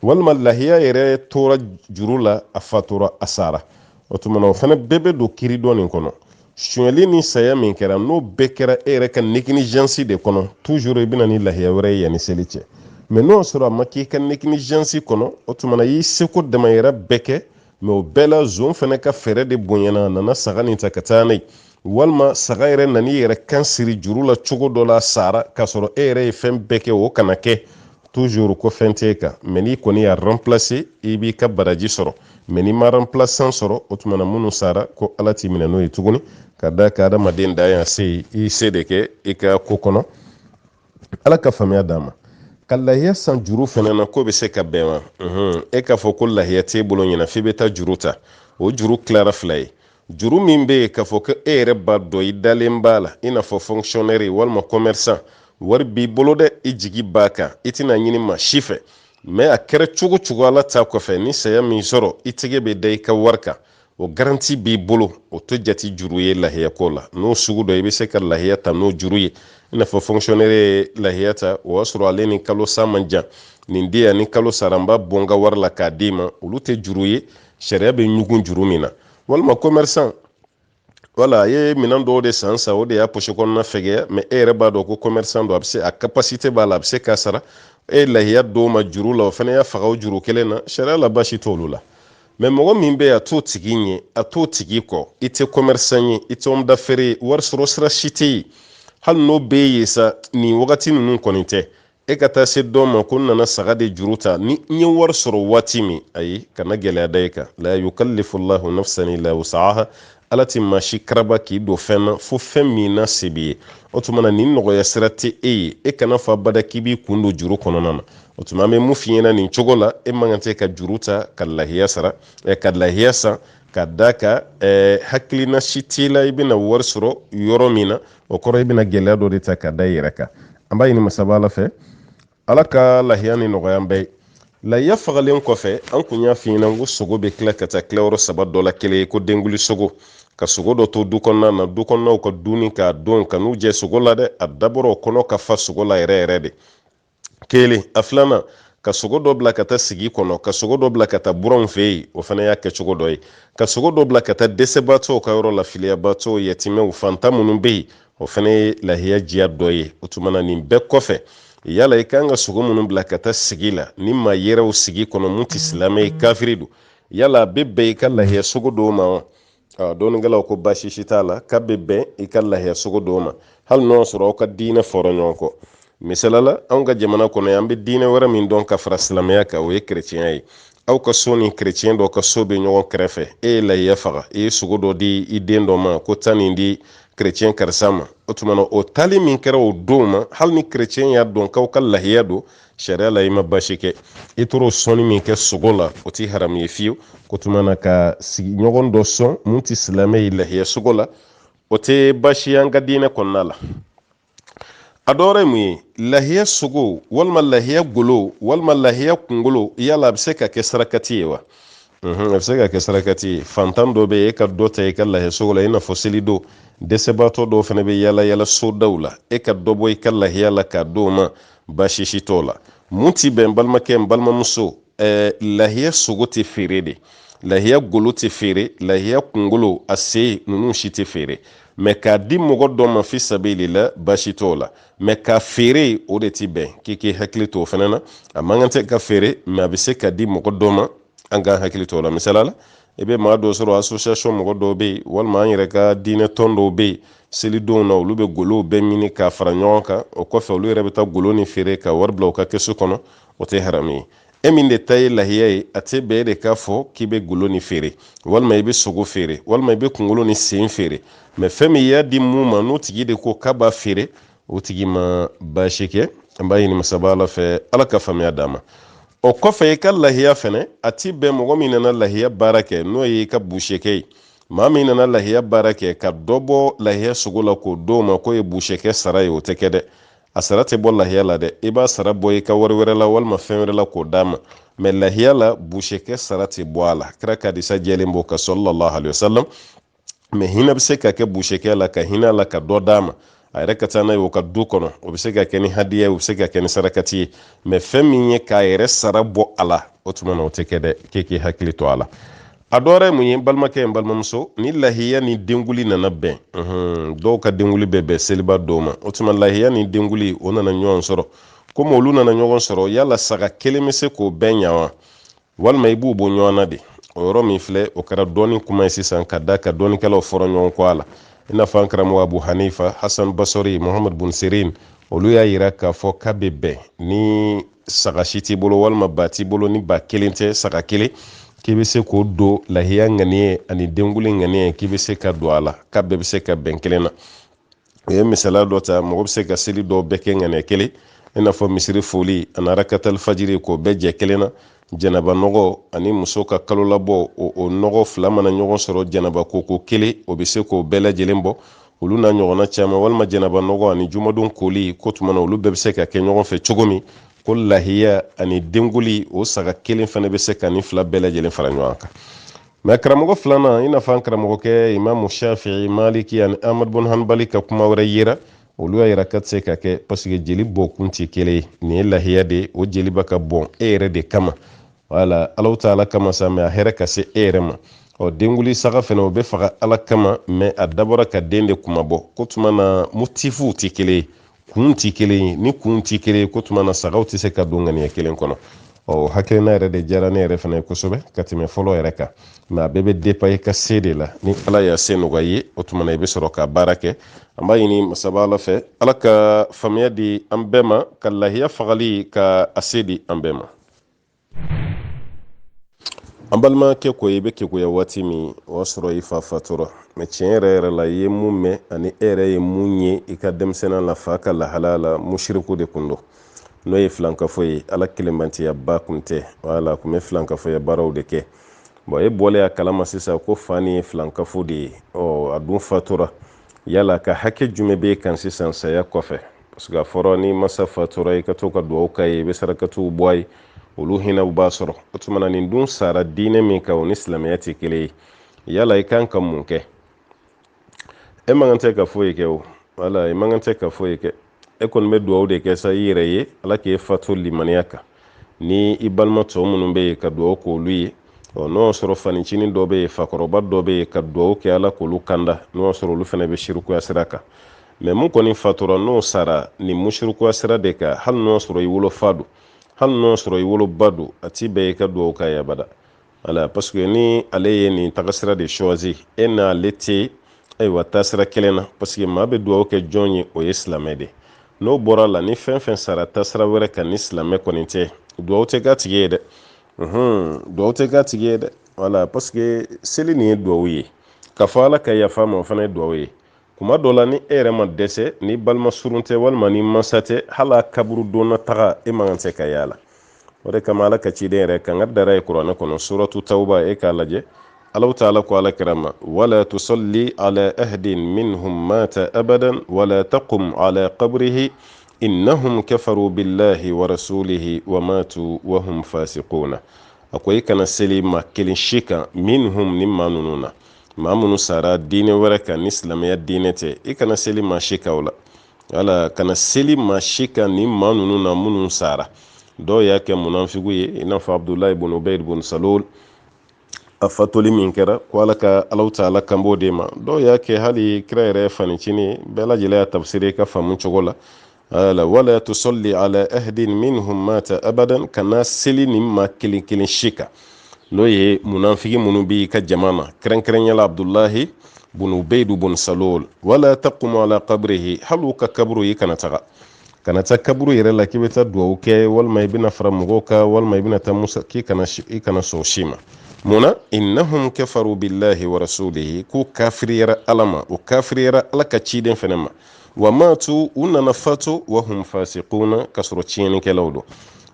walima lahiya yɛrɛ tora juru la a fatura a sara o tumana o fana bɛɛ bɛ don kiiri dɔ nin kɔnɔ suyɛli ni saya min kɛra n'o bɛɛ kɛra e yɛrɛ ka négligence de kɔnɔ toujours i bɛ na ni lahiya wɛrɛ ye yanni seli cɛ mɛ n'o sɔrɔ a ma k'i ka négligence kɔnɔ o tumana i y'i seko damayira bɛɛ kɛ mɛ o bɛɛ la zon fana ka fɛɛrɛ de bonyana a nana saga nin ta ka taa n'a ye walima saga yɛrɛ nana i yɛrɛ kan siri juru la cogo dɔ la a sara k'a sɔrɔ e yɛrɛ ye fɛn bɛɛ kɛ o kana kɛ toujours ko fɛn t'e kan mɛ n'i kɔni y'a remplacer i b'i ka baraji sɔrɔ mɛ n'i ma remplaçant sɔrɔ o tuma na minnu sara ko ala t'i minɛ n'o ye tuguni ka d'a kan adamaden da yan se i se de kɛ i ka ko kɔnɔ ala ka faamuya d'an ma ka lahiya san juru fana na k'o bɛ se ka bɛn wa e k'a fɔ ko lahiya t'e bolo ɲinan f'i bɛ taa juru ta o juru tilara fila ye juru min bɛ yen k'a fɔ ko e yɛrɛ b'a dɔn i dalen b'a la i n'a fɔ fonctionnaire walima commerçant wari b'i bolo dɛ i jigi b'a kan i tɛn'a ɲini maa si fɛ mɛ a kɛra cogo cogo ala ta kɔfɛ ni saya m'i sɔrɔ i tɛgɛ bɛ da i ka wari kan o garanti b'i bolo o tɛ jate juru ye lahiya ko la n'o sugu don i bɛ se ka lahiya ta n'o juru ye i n'a fɔ fonctionnaire ye lahiya ta o y'a sɔrɔ ale ni kalo sa man jan nin di yan ni kalo sara n b'a bɔ n ka wari la k'a d'i ma olu tɛ juru ye sariya bɛ ɲugun juru min na walima commerçant wala a ye minɛn dɔw de san sa o de y'a poche kɔnɔna fɛgɛya mɛ e yɛrɛ b'a dɔn ko commerçant don a bɛ se a capacité b'a la a bɛ se k'a sara e ye lahiya d'o ma juru la o fana y'a faga o juru kelen na sariya la baasi t'olu la mɛ mɔgɔ min bɛ yen a t'o tigi ɲɛ a t'o tigi kɔ i tɛ commerçant ye i tɛ homme d'affaires ye wari sɔrɔ sira si tɛ yen hali n'o bɛ yen sa nin wagati ninnu kɔni tɛ e ka taa se dɔ ma ko n nana saga de juru ta ni n ye wari sɔrɔ waati min ayi kana gɛlɛya da i kan la yukallifu llahu nafsan illa wus'aha ala ti maa si karaba k'i don fɛn na fo fɛn min na se b'i ye o tuma na nin nɔgɔya sira tɛ e ye e kana fɔ abada k'i b'i kun don juru kɔnɔna na o tuma an bɛ mun f'i ɲɛna nin cogo la e man kan tɛ ka juru ta ka lahiya sara eh, ka lahiya san ka da ka eh, hakilina si t'i la i bɛna wari sɔrɔ yɔrɔ min na o kɔrɔ i bɛna gɛlɛya dɔ de ta ka da i yɛrɛ kan an b'a ɲini masaba ala fɛ ala ka lahiya ni nɔgɔya an bɛɛ ye lahiya fagalen kɔfɛ an kun y'a f'i ɲɛna ko sogo bɛ tila ka taa tilayɔrɔ saba dɔ la kelen ye ko denguli sogo ka sogo dɔ to du kɔnɔna na du kɔnɔnaw ka dunni k'a dun kan'u jɛ sogo la dɛ a dabɔra o kɔnɔ ka fa sogo la yɛrɛ yɛrɛ de kelen a filanan ka sogo dɔ bila ka taa sigi kɔnɔ ka sogo dɔ bila ka taa buranw fɛ yen o fana y'a kɛcogo dɔ ye ka sogo dɔ bila ka taa dɛsɛbaatɔw ka yɔrɔ la filiyabaatɔw yatimɛw fantan minnu bɛ yen o fana ye lahiya jiya dɔ ye o tuma na nin bɛɛ kɔfɛ yala i kan ka sogo minnu bila ka taa sigi la ni maa yɛrɛw sigi kɔnɔ mun tɛ silamɛ ye kafiri don yala a bɛ bɛn i ka lahiya sogo d'o ma wa dɔnnikɛlaw ko baasi si t'a la k'a bɛ bɛn i ka lahiya sogo d'o ma hali n'o y'a sɔrɔ aw ka diinɛ fɔra ɲɔgɔn kɔ misala la anw ka jamana kɔnɔ yan an bɛ diinɛ wɛrɛ min dɔn ka fara silamɛya kan o ye kerecɛnya ye aw ka so ni kerecɛn dɔ ka so bɛ ɲɔgɔn kɛrɛfɛ e ye lahiya faga i ye sogo dɔ di i den dɔ ma ko taa nin di kerecɛn karisa ma o tuma na o taali min kɛra o don ma hali ni kerecɛn y'a dɔn k'aw ka lahiya don sariya la i ma baasi kɛ i t'o sɔnni min kɛ sogo la o ti haramu ye fiyewu o tuma na ka sigiɲɔgɔn dɔ sɔn mun tɛ silamɛ ye lahiya sogo la o tɛ baasi ye an ka diinɛ kɔnɔna la a dɔwɛrɛ mun ye lahiya sogo walima lahiya golo walima lahiya kunkolo yala a bɛ se ka kɛ sarakati ye wa a bɛ se ka kɛ sarakati ye fantan dɔ bɛ e ka dɔ ta i ka lahiya sogo la i n'a fɔ selidon dɛsɛbaatɔ dɔw fana bɛ yala yala sodaw la e ka dɔ bɔ i ka lahiya la k'a d'o ma baasi si t'o la mun ti bɛn balimakɛ n balimamuso ɛɛ lahiya sogo tɛ feere dɛ lahiya golo tɛ feere lahiya kunkolo a sen ninnu si tɛ feere mɛ k'a di mɔgɔ dɔ ma fi sabilila baasi t'o la mɛ k'a feere o de ti bɛn k'i k'i hakili to o fana na a man kan tɛ ka feere mɛ a bɛ se ka di mɔgɔ dɔ ma an k'an hakili to o la misala la i bɛ maa dɔ sɔrɔ association mɔgɔ dɔw bɛ yen walima an yɛrɛ ka diinɛ tɔn dɔw bɛ yen selidonw na olu bɛ golow bɛɛ ɲini k'a fara ɲɔgɔn kan o kɔfɛ olu yɛrɛ bɛ taa golo nin feere ka wari bila u ka kɛsu kɔnɔ o tɛ haramu ye e min de ta ye lahiya ye a tɛ bɛn e de k'a fɔ k'i bɛ golo nin feere walima i bɛ sogo feere walima i bɛ kunkolo ni sen feere mɛ fɛn min y'a di mun ma n'o tigi de ko k'a b'a feere o tigi ma baasi kɛ an b'a ɲini masaba ala fɛ ala ka faamuya d'an ma o kɔfɛ i ka lahiya fɛnɛ a ti bɛn mɔgɔ min nana lahiya baara kɛ n'o ye i ka busekɛ ye maa min nana lahiya baara kɛ ka dɔ bɔ lahiya sogo la k'o d'o ma k'o ye busekɛ sara ye o tɛ kɛ dɛ a sara tɛ bɔ lahiya la dɛ i b'a sara bɔ i ka wari wɛrɛ la walima fɛn wɛrɛ la k'o d'a ma mɛ lahiya la busekɛ sara tɛ bɔ a la kira ka hadisa jɛlen b'o kan sallallahu alayhi wa sallam mɛ hinɛ bɛ se ka kɛ busekɛ la ka hinɛ a la ka dɔ d'a ma a yɛrɛ ka taa n'a ye o ka du kɔnɔ o bɛ se ka kɛ ni hadiya ye o bɛ se ka kɛ ni sarakati ye mɛ fɛn min ye k'a yɛrɛ sara bɔ a la o tuma na o tɛ kɛ dɛ k'e k'i hakili to a la a dɔwɛrɛ ye mun ye balimakɛ ye balimamuso ni lahiya ni denguli nana bɛn dɔw ka denguli bɛ bɛn seliba don ma o tuma lahiya ni denguli o nana ɲɔgɔn sɔrɔ komi olu nana ɲɔgɔn sɔrɔ yala saga kelen bɛ se k'o bɛɛ ɲa wa walima i b'u bɔ ɲɔgɔn na de o yɔrɔ min filɛ o kɛra dɔnni kuma ye sisan k'a d'a kan dɔnnikɛlaw fɔra ɲɔgɔn kɔ a la i n'a fɔ an karamɔgɔ abu hanifa hasan basri muhamadu bun sirin olu y'a yira k'a fɔ k'a bɛ bɛn ni saga si t'i bolo walima ba t'i bolo ni ba kelen tɛ saga kelen k'i bɛ se k'o don lahiya ŋaniye ani denguli ŋaniye k'i bɛ se k'a don a la k'a bɛɛ bɛ se ka bɛn kelen na u ye misaliya dɔ ta mɔgɔ bɛ se ka seli dɔw bɛɛ kɛ ŋaniya kelen i n'a fɔ misiri foli ani rakatali fajiri k'o bɛɛ jɛ kelen na janaba nɔgɔ ani muso ka kalo labɔ o nɔgɔ fila mana ɲɔgɔn sɔrɔ janaba koko kelen o bɛ se k'o bɛɛ lajɛlen bɔ olu n'a ɲɔgɔnna caman walima janaba nɔgɔ ani jumadon koli k'o tuma na olu bɛɛ bɛ se ka kɛ ɲɔgɔn fɛ cogo min ko lahiya ani denguli o saga kelen fana bɛ se ka nin fila bɛɛ lajɛlen fara ɲɔgɔn kan mɛ karamɔgɔ filanan i n'a fɔ an karamɔgɔkɛ imamu shafi'i maliki ani amadu bun hanbali ka kuma wɛrɛ yera olu y'a yira k'a tɛ se ka kɛ paseke jeli bɔkun tɛ kelen ye nin ye lahiya de ye o jeli bɛ ka bɔn e yɛrɛ de kama wala alaw ta ala kama sa mɛ a hɛrɛ ka se e yɛrɛ ma ɔ denguli saga fɛnɛ o bɛ faga ala kama mɛ a dabɔra ka den de kunmabɔ k'o tuma na motifuw tɛ kelen ye kun tɛ kelen ye ni kun tɛ kelen ye k'o tuma na sagaw tɛ se ka don ŋaniya kelen kɔnɔ o hakilina yɛrɛ de diyara ne yɛrɛ fana ye kosɛbɛ ka tɛmɛ fɔlɔ yɛrɛ kan mɛ a bɛɛ bɛ depan i ka se de la ni ala y'a se nɔgɔya i ye o tuma na i bɛ sɔrɔ ka baara kɛ an b'a ɲini masaba ala fɛ ala ka faamuya di an bɛɛ ma ka lahiya fagali ka a se di an bɛɛ ma an balimakɛ ko i bɛ keguya waati min o y'a sɔrɔ i fa fatura mɛ tiɲɛ yɛrɛ yɛrɛ la i ye mun mɛn ani e yɛrɛ ye mun ye i ka denmisɛnninya la fa ka lahalaya la mushiriku de kun don n'o ye filankafo ye ala kelenbantiyaba kun tɛ wala kun bɛ filankafoya baaraw de kɛ bon e bɔlen a kalama sisan ko fa nin ye filankafo de ye ɔ a dun fatura yala a ka hakɛ jumɛn b'i kan sisan saya kɔfɛ parce que a fɔra ni i masa fatura i ka to ka dugawu k'a ye i bɛ sarakatiw bɔ a ye olu hinɛw b'a sɔrɔ o tuma na nin dun sara diinɛ min kan o ni silamɛya tɛ kelen ye yala i kan ka mun kɛ e man kan tɛ ka foyi kɛ o wala i man kan tɛ ka foyi kɛ e kɔni bɛ dugawu de kɛ sa i yɛrɛ ye ala k'e fatu limaniya kan ni i balima tɔ minnu bɛ yen ka dugawu k'olu ye ɔ n'o y'a sɔrɔ fanicinin dɔ bɛ yen fakɔrɔba dɔ bɛ yen ka dugawu kɛ ala k'olu kanda n'o y'a sɔrɔ olu fana bɛ sirikuya sira kan mais mun kɔni fatura n'o sara nin musirikuya sira de kan hali n'o y'a sɔrɔ i wolofa don hali n'o y'a sɔrɔ i woloba don a ti bɛn i ka dugawu k'a ye abada wala parce que ni ale ye nin tagasira de choisi e n'ale tɛ ayiwa taasira kelen na parce que maa bɛ dugawu kɛ jɔn ye o ye silamɛ de n'o bɔra a la ni fɛn fɛn sara taasira wɛrɛ kan ni silamɛ kɔni tɛ dugawu tɛ k'a tigi ye dɛ dugawu tɛ k'a tigi ye dɛ wala parce que seli nin ye dugawu ye k'a fɔ ala ka yafa a ma o fana ye dugawu ye kuma dɔ la ni e yɛrɛ ma dɛsɛ ni balima surun tɛ walima ni mansa tɛ hali a kaburu donna taga e man kan tɛ ka y'a la o de kama ala ka ciden yɛrɛ kan ka dara ye kuranɛ kɔnɔ suratu tawuba e k'a lajɛ alaw taala ko ala kira ma wala tusalli ala ahadin minhum mata abadan wala taqum ala qabrihi innahum kafaru billahi wa rasulihi wa matu wa hum fasiquna a ko i kana seli maa kelen si kan minhum ni maa ninnu na maa minnu sara diinɛ wɛrɛ kan ni silamɛya diinɛ tɛ i kana seli maa si kan o la wala kana seli maa si kan ni maa ninnu na minnu sara dɔw y'a kɛ munafiku ye i n'a fɔ abudulayi bun ubayd bun salul a fatuli min kɛra ko ala ka alaw taala kan b'o de ma dɔw y'a kɛ hali kira yɛrɛ fanicinin bɛɛ lajɛlen y'a tafsiri i ka faamu cogo la wala tusalli ala ahadin minhum mata abadan kana seli ni maa kelen kelen si kan n'o ye munafiki minnu b'i ka jama na kɛrɛnkɛrɛnya la abdulahi bunu ubeidu bun salul wala taqumu ala qabrihi hali u ka kaburu i kana taga kana taa kaburu yɛrɛ la k'i bɛ taa dugawu kɛ walima i bɛna fara mɔgɔw kan walima i bɛna taa musa k'i kana i kana sɔn si ma munna innahum kafaru billahi wa rasulihi k'u kafiriyara ala ma u kafiriyara ala ka ciden fɛnɛ ma wa matu u nana fatu wa hum fasiquna ka sɔrɔ tiɲɛnikɛlaw don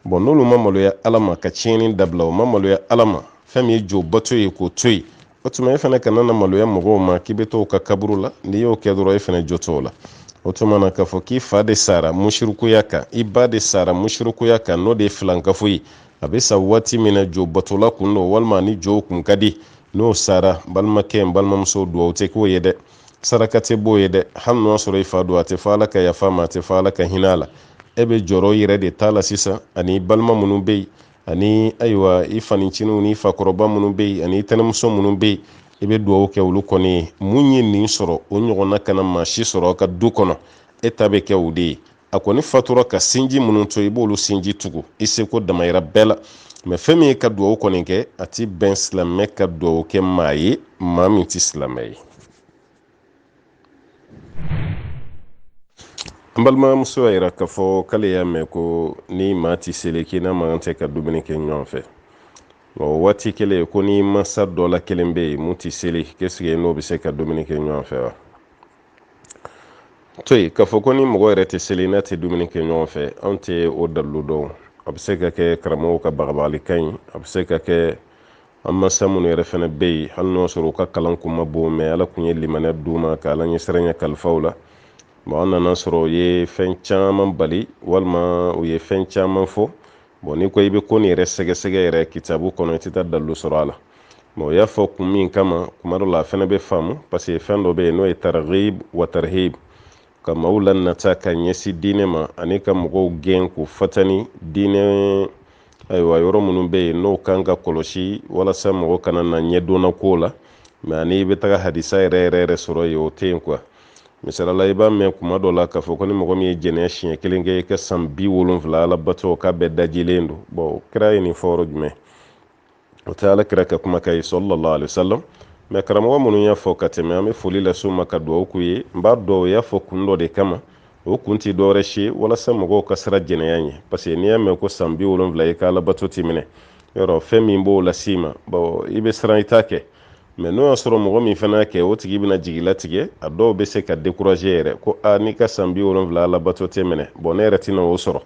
bon n'olu ma maloya ala ma ka tiɲɛni dabila u ma maloya ala ma fɛn min ye jo bato ye k'o to yen o tuma e fana kana na maloya mɔgɔw ma k'i bɛ t'o ka kaburu la n'i y'o kɛ dɔrɔn e fana jo t'o la o tuma na k'a fɔ k'i fa de sara musirikuya kan i ba de sara musirikuya kan n'o de ye filankafo ye a bɛ sa waati min na jo batola kun don walima ni jow kun ka di n'o sara balimakɛ n balimamuso dugawu tɛ k'o ye dɛ saraka tɛ b'o ye dɛ hali n'o y'a sɔrɔ i fa don a tɛ fɔ ala ka yafa a ma a tɛ fɔ ala ka hinɛ a la e bɛ jɔrɔ i yɛrɛ de ta la sisan ani i balima minnu bɛ yen ani ayiwa i faniciniw ni i fakɔrɔba minnu bɛ yen ani i tɛnɛmuso minnu bɛ yen i bɛ dugawu kɛ olu kɔni ye mun ye nin sɔrɔ o ɲɔgɔnna kana maa si sɔrɔ ka du kɔnɔ e ta bɛ kɛ o de ye a kɔni fatura ka sinji minnu to i b'olu sinji tugu i seko damayira bɛɛ la mɛ fɛn min ye ka duwawu kɔni kɛ a ti bɛn silamɛ ka duwawu kɛ maa ye maa min ti silamɛ ye an balimamuso y'a yira k'a fɔ k'ale y'a mɛn ko ni maa ti seli k'i n'a man tɛ ka dumuni kɛ ɲɔgɔn fɛ o waati kelen ko n'i masa dɔ la kelen bɛ yen mun ti seli k'esike n'o bɛ se ka dumuni kɛ ɲɔgɔn fɛ wa to yen k'a fɔ ko ni mɔgɔ yɛrɛ tɛ seli n'a tɛ dumuni kɛ ɲɔgɔn fɛ anw tɛ o dalilu dɔn a bɛ se ka kɛ karamɔgɔw ka bagabagalikan ye a bɛ se ka kɛ an mansa minnu yɛrɛ fana bɛ yen hali n'o sɔrɔ u ka kalan kun ma bon mɛ ala kun ye limaniya d'u ma ka ala ɲɛsiranya kalifa u la bon an nana sɔrɔ u ye fɛn caman bali walima u ye fɛn caman fɔ bon n'i ko i bɛ ko nin yɛrɛ sɛgɛsɛgɛ yɛrɛ kitabu kɔnɔ i tɛ taa dalilu sɔrɔ a la bon u y'a fɔ kun min kama kuma dɔ la a fɛnɛ bɛ faamu paseke fɛn dɔ bɛ yen n'o ye targhib wa tarhib ka maaw lanata ka ɲɛsin diinɛ ma ani ka mɔgɔw gɛn k'u fatani diinɛ ayiwa yɔrɔ minnu bɛ yen n'o kan ka kɔlɔsi walasa mɔgɔ kana na ɲɛdonna ko la mɛ ani i bɛ taga hadisa yɛrɛ yɛrɛ yɛrɛ sɔrɔ yen o tɛ yen kuwa misalala i b'a mɛn kuma dɔ la k'a fɔ ko ni mɔgɔ min ye jɛnɛya siɲɛ kelen kɛ i ka san bi wolonfila alabato k'a bɛɛ dajilen don bɔn kira ye nin fɔ yɔrɔ jumɛn o tɛ ala kira ka kumakan ye sallallahu alaihi wasallam mɛ karamɔgɔ minnu y'a fɔ ka tɛmɛ an bɛ foli las'u ma ka dugawu k'u ye n b'a dɔn u y'a fɔ kun dɔ de kama o kun tɛ dɔwɛrɛ si walasa mɔgɔw ka siran jɛnɛya ɲɛ parce que n'i y'a mɛn ko san bi wolonwula i ka alabato ti minɛ yɔrɔ fɛn min b'o las'i ma bon i bɛ siran i t'a kɛ mɛ n'o y'a sɔrɔ mɔgɔ min fana y'a kɛ o tigi bɛna jigi latigɛ a dɔw bɛ se ka dekuraze yɛrɛ ko a n'i ka san bi wolonwula alabato tɛ minɛ bɔn ne yɛrɛ tɛna o sɔrɔ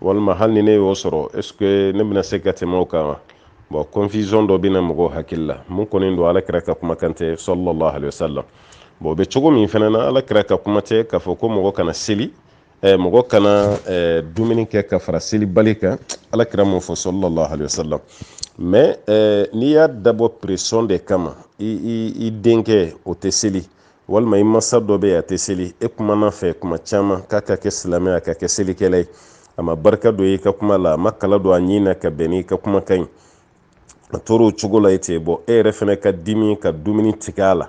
walima hali ni ne y'o sɔrɔ est ce que ne bɛna se ka tɛmɛ o kan wa bon confusion dɔ bɛ na mɔgɔw hakili la mun kɔni don alakira ka kumakan tɛ sallallahu alaihi wasallam bon o bɛ cogo min fana na alakira ka kuma tɛ k'a fɔ ko mɔgɔ kana seli eh, mɔgɔ kana eh, dumuni kɛ ka fara selibali kan alakira m'o fɔ sallallahu alaihi wasallam mais eh, n'i y'a dabɔ pression de kama i, i, i denkɛ o tɛ seli walima i masa dɔ bɛ yen a tɛ seli e kumana a fɛ kuma caman k'a ka kɛ silamɛ a ka kɛ selikɛla ye a ma barika don i ka kuma la a ma kala don a ɲin na ka bɛn n'i ka kumakan ye a tora o cogo la ten bon e yɛrɛ fana ka dimi ka dumuni tigɛ a la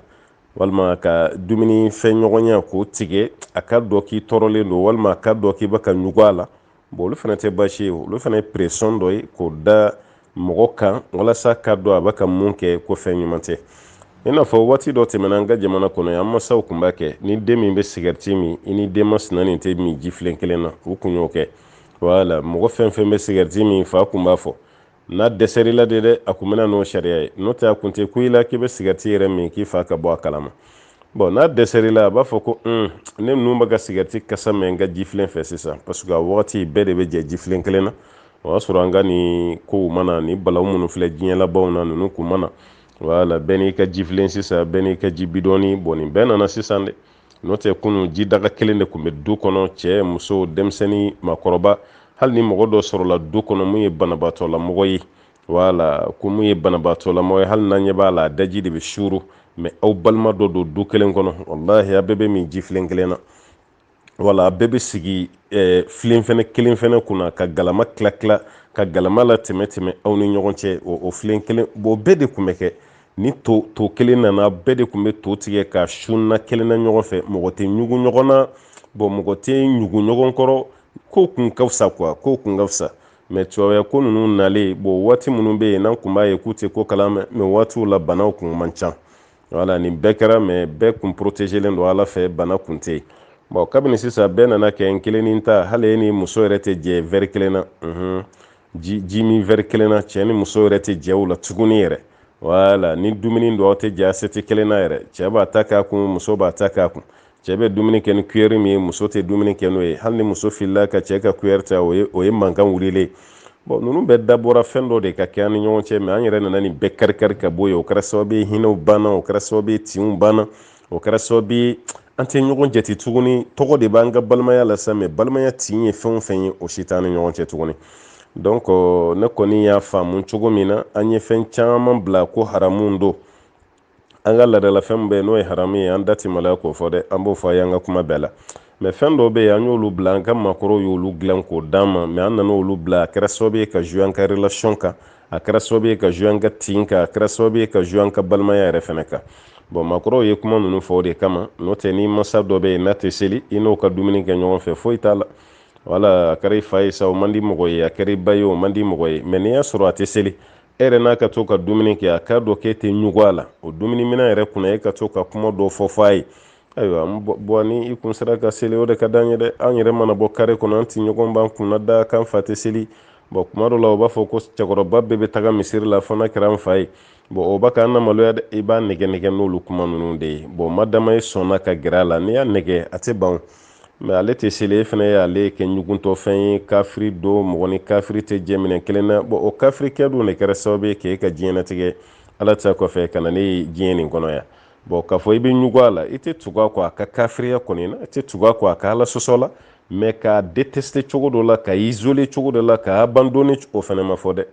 walima ka dumuni fɛn ɲɔgɔnya k'o tigɛ a k'a dɔn k'i tɔɔrɔlen don walima a k'a dɔn k'i bɛ ka ɲugu a la bon olu fana tɛ baasi ye olu fana ye pression dɔ ye k'o da mɔgɔ kan walasa k'a dɔn a bɛ ka mun kɛ ko fɛn ɲuman tɛ i n'a fɔ waati dɔ tɛmɛna an ka jamana kɔnɔ yan an masaw kun b'a kɛ ni den min bɛ sigɛriti min i ni den masina nin tɛ min jifilen kelen na u kun y'o kɛ wala mɔgɔ fɛn fɛn bɛ sigɛriti min fa kun b'a fɔ n'a dɛsɛrila de dɛ a kun bɛ na n'o sariya ye n'o tɛ a kun tɛ kun i la k'i bɛ sigarɛti yɛrɛ min k'i fa ka bɔ a kalama bɔn n'a dɛsɛrila a b'a fɔ ko un ne nun bɛ ka sigarɛti kasa mɛn n ka jifilen fɛ sisan parce que a wagati bɛɛ de bɛ jɛ jifilen kelen na o y'a sɔrɔ an ka nin kow mananin balaw minnu filɛ diɲɛ labanw na ninnu kun ma na wala bɛɛ n'i ka jifilen sisan bɛɛ n'i ka ji bidɔni bɔn nin bɛɛ nana sisan dɛ n'o tɛ kunun jidaga kelen de kun bɛ du kɔnɔ cɛ muso denmisɛnnin maakɔrɔba hali ni mɔgɔ dɔ sɔrɔla du kɔnɔ min ye banabaatɔlamɔgɔ ye wala ko min ye banabaatɔlamɔgɔ ye hali n'an ɲɛ b'a la a daji de bɛ suuru mɛ aw balima dɔ don du kelen kɔnɔ walahi a bɛɛ bɛ min jifilen kelen na wala a bɛɛ bɛ sigi eh, filen fɛnɛ kelen fɛnɛ kunna ka galama tila tila ka galama latɛmɛ tɛmɛ aw ni ɲɔgɔn cɛ o filen kelen bɔn bɛɛ de kun bɛ kɛ ni to kelen nana bɛɛ de kun bɛ to tigɛ k'a su na kelen na ɲɔgɔn fɛ mɔgɔ tɛ ɲugu ɲɔgɔn na bɔn mɔgɔ tɛ ɲugu ɲɔgɔn kɔrɔ ko kun ka fisa kuwa ko kun ka fisa mɛ tubabuya ko ninnu nalen bɔn waati minnu bɛ yen n'an kun b'a ye k'u tɛ ko kalama mɛ waatiw la banaw kun man ca wala nin bɛɛ kɛra mɛ bɛɛ kun porotezelen don ala fɛ bana kun tɛ yen bɔn kabini sisan bɛɛ nana kɛ n kelen ni ta hali e n'i muso yɛrɛ tɛ jɛ vɛri kelen na ji min vɛri kelen na cɛ ni muso yɛrɛ tɛ jɛ o la tuguni yɛrɛ wala ni dumuni don aw tɛ jɛ asɛti kelen na yɛrɛ cɛ b'a ta k'a kun muso b'a ta k'a kun cɛ bɛ dumuni kɛ ni kuyɛri min ye muso tɛ dumuni kɛ n'o ye hali ni muso filila ka cɛ ka kuyɛri ta o ye o ye mankan wulilen bɔn ninnu bɛɛ dabɔra fɛn dɔ de ka kɛ an ni ɲɔgɔn cɛ mɛ an yɛrɛ nana nin bɛɛ karikari ka bɔ yen o kɛra sababu ye hinɛw banna o kɛra sababu ye tinw banna o kɛra sababu ye an tɛ ɲɔgɔn jate tuguni tɔgɔ de b'an ka balimaya la sa mɛ balimaya tin ye fɛn o fɛn ye o si t'an ni ɲɔgɔn cɛ tuguni donc euh, ne kɔni y'a faamu cogo min na an ye fɛn caman bila ko haramu don an ka laadalafɛn bɛ n'o ye haramu ye an da tɛ maloya k'o fɔ dɛ an b'o fɔ a y'an ka kuma bɛɛ la mɛ fɛn dɔw bɛ yen an y'olu bila an ka maakɔrɔw y'olu dilan k'o d'an ma mɛ an nana olu bila a kɛra sababu ye ka jouer an ka relation kan a kɛra sababu ye ka jouer an ka tin kan a kɛra sababu ye ka jouer an ka balimaya yɛrɛ fɛnɛ kan bɔn maakɔrɔw ye kuma ninnu fɔ o de kama n'o tɛ n'i masa dɔ bɛ yen n'a tɛ seli i n'o ka dumuni kɛ ɲɔgɔn fɛ foyi t'a la wala a kɛra i fa ye sa o man di mɔgɔ ye a kɛra i ba ye o man di mɔgɔ ye mɛ n'i y'a sɔrɔ a tɛ seli e yɛrɛ n'a ka to ka dumuni kɛ a k'a dɔn k'e tɛ ɲugu a la o dumuni minɛn yɛrɛ kunna e ka to ka kuma dɔ fɔ fɔ a ye ayiwa bɔn ni i kun sera ka seli o de ka d'an ye dɛ an yɛrɛ mana bɔ kare kɔnɔ an tɔɲɔgɔn b'an kunnada k'an fa tɛ seli bɔn kuma dɔ la o b'a fɔ ko cɛkɔrɔba bɛɛ bɛ taga misiri la fo n'a kɛra n fa ye bɔn o bɛ ka an namaloya dɛ i b'a nɛgɛn nɛgɛn n'olu kuma ninnu de ye bɔn ma dama ye sɔnna ka gɛrɛ a la n'i y'a nɛgɛn a tɛ ban mɛ ale tɛ seli e fana ye ale kɛ ɲuguntɔfɛn ye kafiri don mɔgɔ ni kafiri tɛ jɛ minɛn kelen na bɔn o kafirikɛ dun de kɛra sababu ye k'e ka diɲɛnatigɛ ala ta kɔfɛ ka na n'e ye diɲɛ nin kɔnɔ yan bɔn k'a fɔ i bɛ ɲugu a la i tɛ tugu a kɔ a ka kafiriya kɔni na i tɛ tugu a kɔ a ka ala sɔsɔ la mɛ k'a deteste cogo dɔ la ka isoler cogo dɔ la ka abandonner o fana ma fɔ dɛ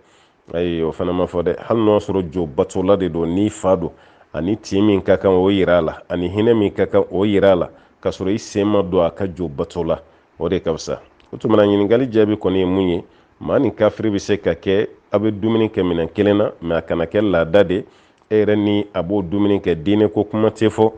ayi o fana ma fɔ dɛ hali n'o sɔrɔ jo batola de don n'i fa don ani tin min ka kan o yira a la ani hinɛ min ka kan o yira a la k'a sɔrɔ i sen ma don a ka jo bato la o de ka fisa o tuma na ɲininkali jaabi kɔni ye mun ye maa ni kafiri bɛ se ka kɛ a bɛ dumuni kɛ minɛn kelen na mɛ a kana kɛ laada de e yɛrɛ ni a b'o dumuni kɛ diinɛ ko kuma tɛ fɔ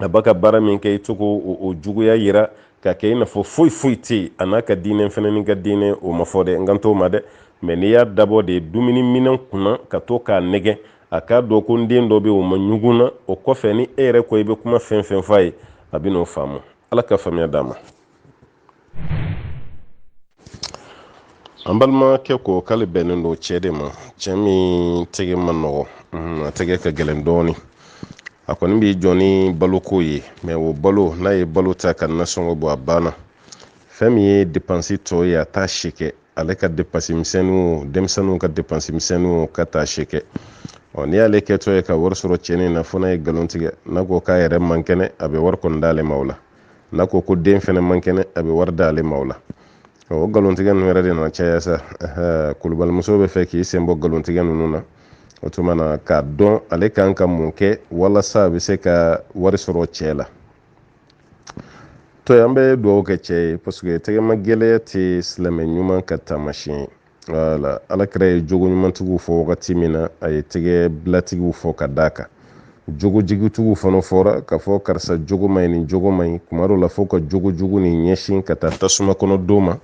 a b'a ka baara min kɛ i t'o ko juguya yira ka kɛ i n'a fɔ foyi foyi tɛ yen a n'a ka diinɛ fana n'i ka diinɛ o ma fɔ dɛ n kan t'o ma dɛ mɛ n'i y'a dabɔ de dumuni minɛn kunna ka to k'a nɛgɛ a k'a dɔn ko n den dɔ bɛ o ma ɲugu n na o kɔfɛ ni e yɛrɛ ko i bɛ kuma fɛn fɛn f'a ye a bɛ n'o faamu ala ka faamuya d'a ma an balimakɛ ko k'ale bɛnnen don cɛ de ma cɛ min tɛgɛ man nɔgɔ mhm, a tɛgɛ ka gɛlɛn dɔɔni a kɔni b'i jɔ ni baloko ye mɛ o balo n'a ye balo ta ka nasɔngɔ bɔ a banna fɛn min ye depansi tɔ ye a t'a si kɛ ale ka depansi misɛnninw denmisɛnninw ka depansi misɛnninw k'a t'a si kɛ ɔ n'i y'ale kɛtɔ ye ka wari sɔrɔ cɛ nin na fo n'a ye nkalon tigɛ n'a ko k'a yɛrɛ man kɛnɛ a bɛ wari kɔni d'ale ma o la n'a ko ko den fɛnɛ man kɛnɛ a bɛ wari d'ale ma o la o nkalontigɛ ninnu yɛrɛ de nana caya sa kulubalimuso bɛ fɛ k'i sen bɔ nkalontigɛ ninnu na o tuma na k'a dɔn ale kan ka mun kɛ walasa a bɛ se ka wari sɔrɔ cɛ la to an bɛ dugawu kɛ cɛ ye paseke tɛgɛma gɛlɛya tɛ silamɛ ɲuman ka taamasiyɛn ye wala alakira ye jogo ɲumantigiw fɔ wagati min na a ye tɛgɛ bilatigiw fɔ ka d'a kan jogo jugutigiw fana fɔra k'a fɔ karisa jogo man ɲi nin jogo man ɲi kuma dɔ la fo ka jogo jugu nin ɲɛsin ka taa tasuma kɔnɔ don ma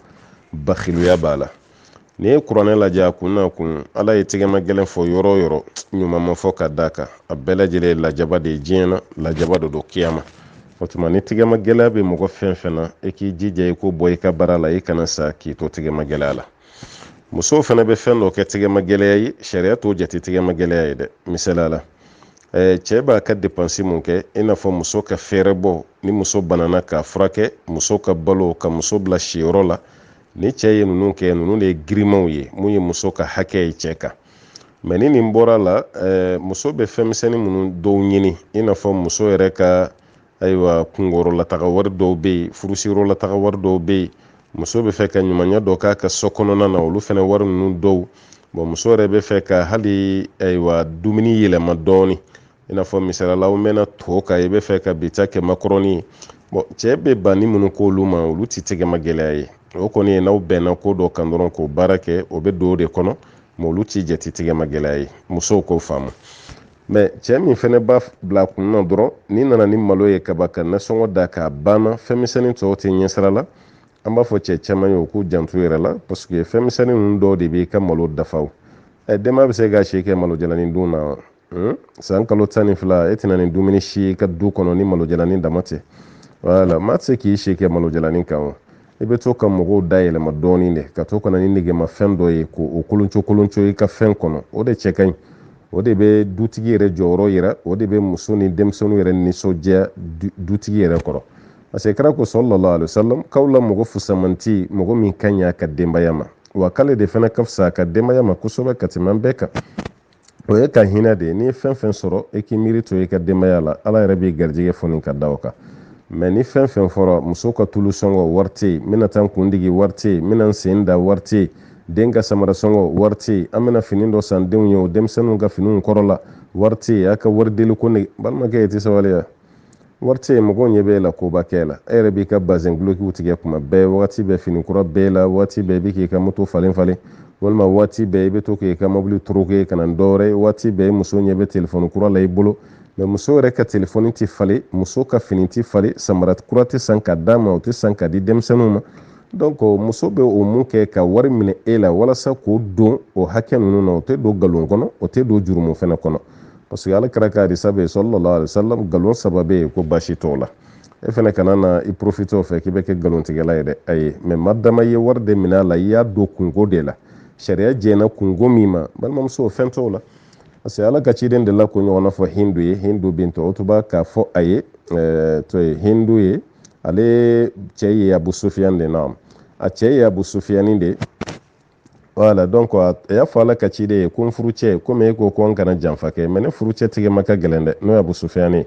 bakiluya b'a la n'i ye kuranɛ lajɛ a kun n'a kun ala ye tɛgɛma gɛlɛn fɔ yɔrɔ o yɔrɔ ɲuman ma fɔ ka d'a kan a bɛɛ lajɛlen ye lajaba de ye diɲɛ na lajaba de don kiyama o tuma ni tigɛma gɛlɛya bɛ mɔgɔ fɛn fɛn na i k'i jija i k'o bɔ i ka baara la i kana sa k'i to tigɛma gɛlɛya la musow fana bɛ fɛn dɔ kɛ tigɛma gɛlɛya ye sariya t'o jate tigɛma gɛlɛya ye dɛ misaliya la eh, cɛɛ b'a ka depansi mun kɛ i n'a fɔ muso ka fɛɛrɛbɔ ni muso banana k'a furakɛ muso ka balo ka muso bila siyɔrɔ la ni cɛɛ ye nunu kɛ nunu de ye girimanw ye mun ye muso ka hakɛ ye cɛɛ kan mɛ ni nin bɔra la eh, muso bɛ fɛnmisɛnnin minnu dɔw ɲini i n'a fɔ muso yɛrɛ ka ayiwa kunkoyɔrɔlataga wari dɔw bɛ yen furusiyɔrɔlataga wari dɔw bɛ yen muso bɛ fɛ ka ɲumanya dɔ k'a ka so kɔnɔna na olu fana wari ninnu dɔw bɔn muso yɛrɛ bɛ fɛ ka hali ayiwa dumuni yɛlɛma dɔɔnin i n'a fɔ misali la aw mɛnna to kan i bɛ fɛ ka bi ta kɛ makɔrɔni bɔn cɛ bɛ banni minnu k'olu ma olu ti tɛgɛma gɛlɛya ye o kɔni ye n'aw bɛnna ko dɔ kan dɔrɔn k'o baara kɛ o bɛ don o de kɔnɔ mɛ olu ti jate tɛgɛma gɛlɛya ye musow k'o faamu mɛ cɛ min fɛnɛ b'a bila kun na dɔrɔn n'i nana ni malo ye kaba ka nasɔngɔ da k'a banna fɛnmisɛnin tɔw tɛ ɲɛsira la an b'a fɔ cɛ caaman ye u k'u janto u yɛrɛ la parce que fɛnmisɛnin nunu dɔw de b'i ka malo dafa o denba bɛ se ka si kɛ malo jalanin dun na Hmm? san kalo tan ni fila e tɛ na ni dumuni si ye i ka du kɔnɔ ni malojalanin dama tɛ wala maa tɛ se k'i si kɛ malojalanin kan o i bɛ to ka mɔgɔw da yɛlɛma dɔɔnin de ka to ka na ni negemafɛn dɔ ye k'o kolonco kolonco i ka fɛn kɔnɔ o de cɛ ka ɲi o de bɛ dutigi yɛrɛ jɔyɔrɔ yira o de bɛ muso ni denmisɛnninw yɛrɛ nisɔndiya dutigi yɛrɛ kɔrɔ parce que kira ko sallallahu alaihi wasallam k'aw la mɔgɔ fusamanti mɔgɔ min ka ɲi a ka denbaya ma wa k'ale de fana ka fisa a ka denbaya ma kosɛbɛ ka tɛmɛ an bɛɛ kan o y'i ka hinɛ de ye n'i ye fɛn fɛn sɔrɔ i k'i miiri to i ka denbaya la ala yɛrɛ b'i garijɛgɛ foni ka da o kan mɛ ni fɛn fɛn fɔra muso ka tulu sɔngɔ wari tɛ yen n bɛna taa n kun digi wari tɛ yen n bɛna n sen da wari tɛ yen den ka samara sɔngɔ wari tɛ yen an bɛna fini dɔ san denw ye o denmisɛnninw ka finiw kɔrɔla wari tɛ yen a ka wari deli ko ne balimakɛ i tɛ sabaliya wari tɛ yen mɔgɔw ɲɛ b'e la koba kɛ la e yɛrɛ b'i ka bazɛn dulokiw tigɛ kuma bɛɛ wagati bɛɛ fini kura b'e la waati bɛɛ i bɛ k'i ka moto falen falen walima waati bɛɛ i bɛ to k'i ka mobili toroke ka na ni dɔwɛrɛ ye waati bɛɛ muso ɲɛ bɛ telefɔni kura la i bolo mɛ muso yɛrɛ ka telefɔni tɛ falen muso ka fini tɛ falen samara kura tɛ san ka d'a ma o tɛ san ka di denmisɛnninw ma donc muso bɛ o mun kɛ ka wari minɛ e la walasa k'o don o hakɛ ninnu na o tɛ don nkalon kɔnɔ o tɛ don jurumu fana kɔnɔ parce que ala kira ka hadisa bɛ yen sallallahu alaihi wasallam galon saba bɛ yen ko baasi t'o la e fana kana na i profite o fɛ k'i bɛ kɛ galontigɛla ye dɛ ayi mɛ madama i ye wari de minɛ a la i y'a don kunko de la sariya jɛnna kunko min ma balimamuso fɛn t'o la parce que ala ka ciden delila k'o ɲɔgɔnna fɔ hindu ye hindu bint utuba k'a fɔ a ye tɔgɔ ye hindu ye ale cɛ ye abu sufiyan de na a cɛ ye abu sufiyani de wala donc a y'a fɔ ala ka ciden ye ko n furucɛ komi e ko ko n kana janfa kɛ mɛ ne furucɛ tɛgɛma ka gɛlɛn dɛ n'o ye abu sufiyani ye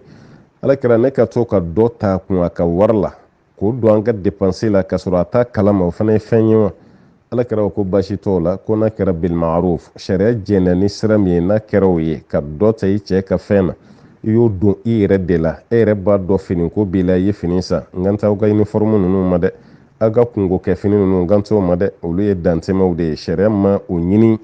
ala kira ne ka to ka dɔ ta kun a ka wari la k'o don an ka depanse la ka sɔrɔ a t'a kalama o fana ye fɛn ye wa ala kira ko baasi t'o la ko n'a kɛra bilmaruf sariya jɛnna ni sira min ye n'a kɛra o ye ka dɔ ta i cɛ ka fɛn na i y'o don i yɛrɛ de la e yɛrɛ b'a dɔn finiko b'i la i ye fini san n kan t'aw ka iniformu ninnu ma dɛ aw ka kunko kɛ fini ninnu n kan t'o ma dɛ olu ye dantɛmɛw de ye sariya ma o ɲini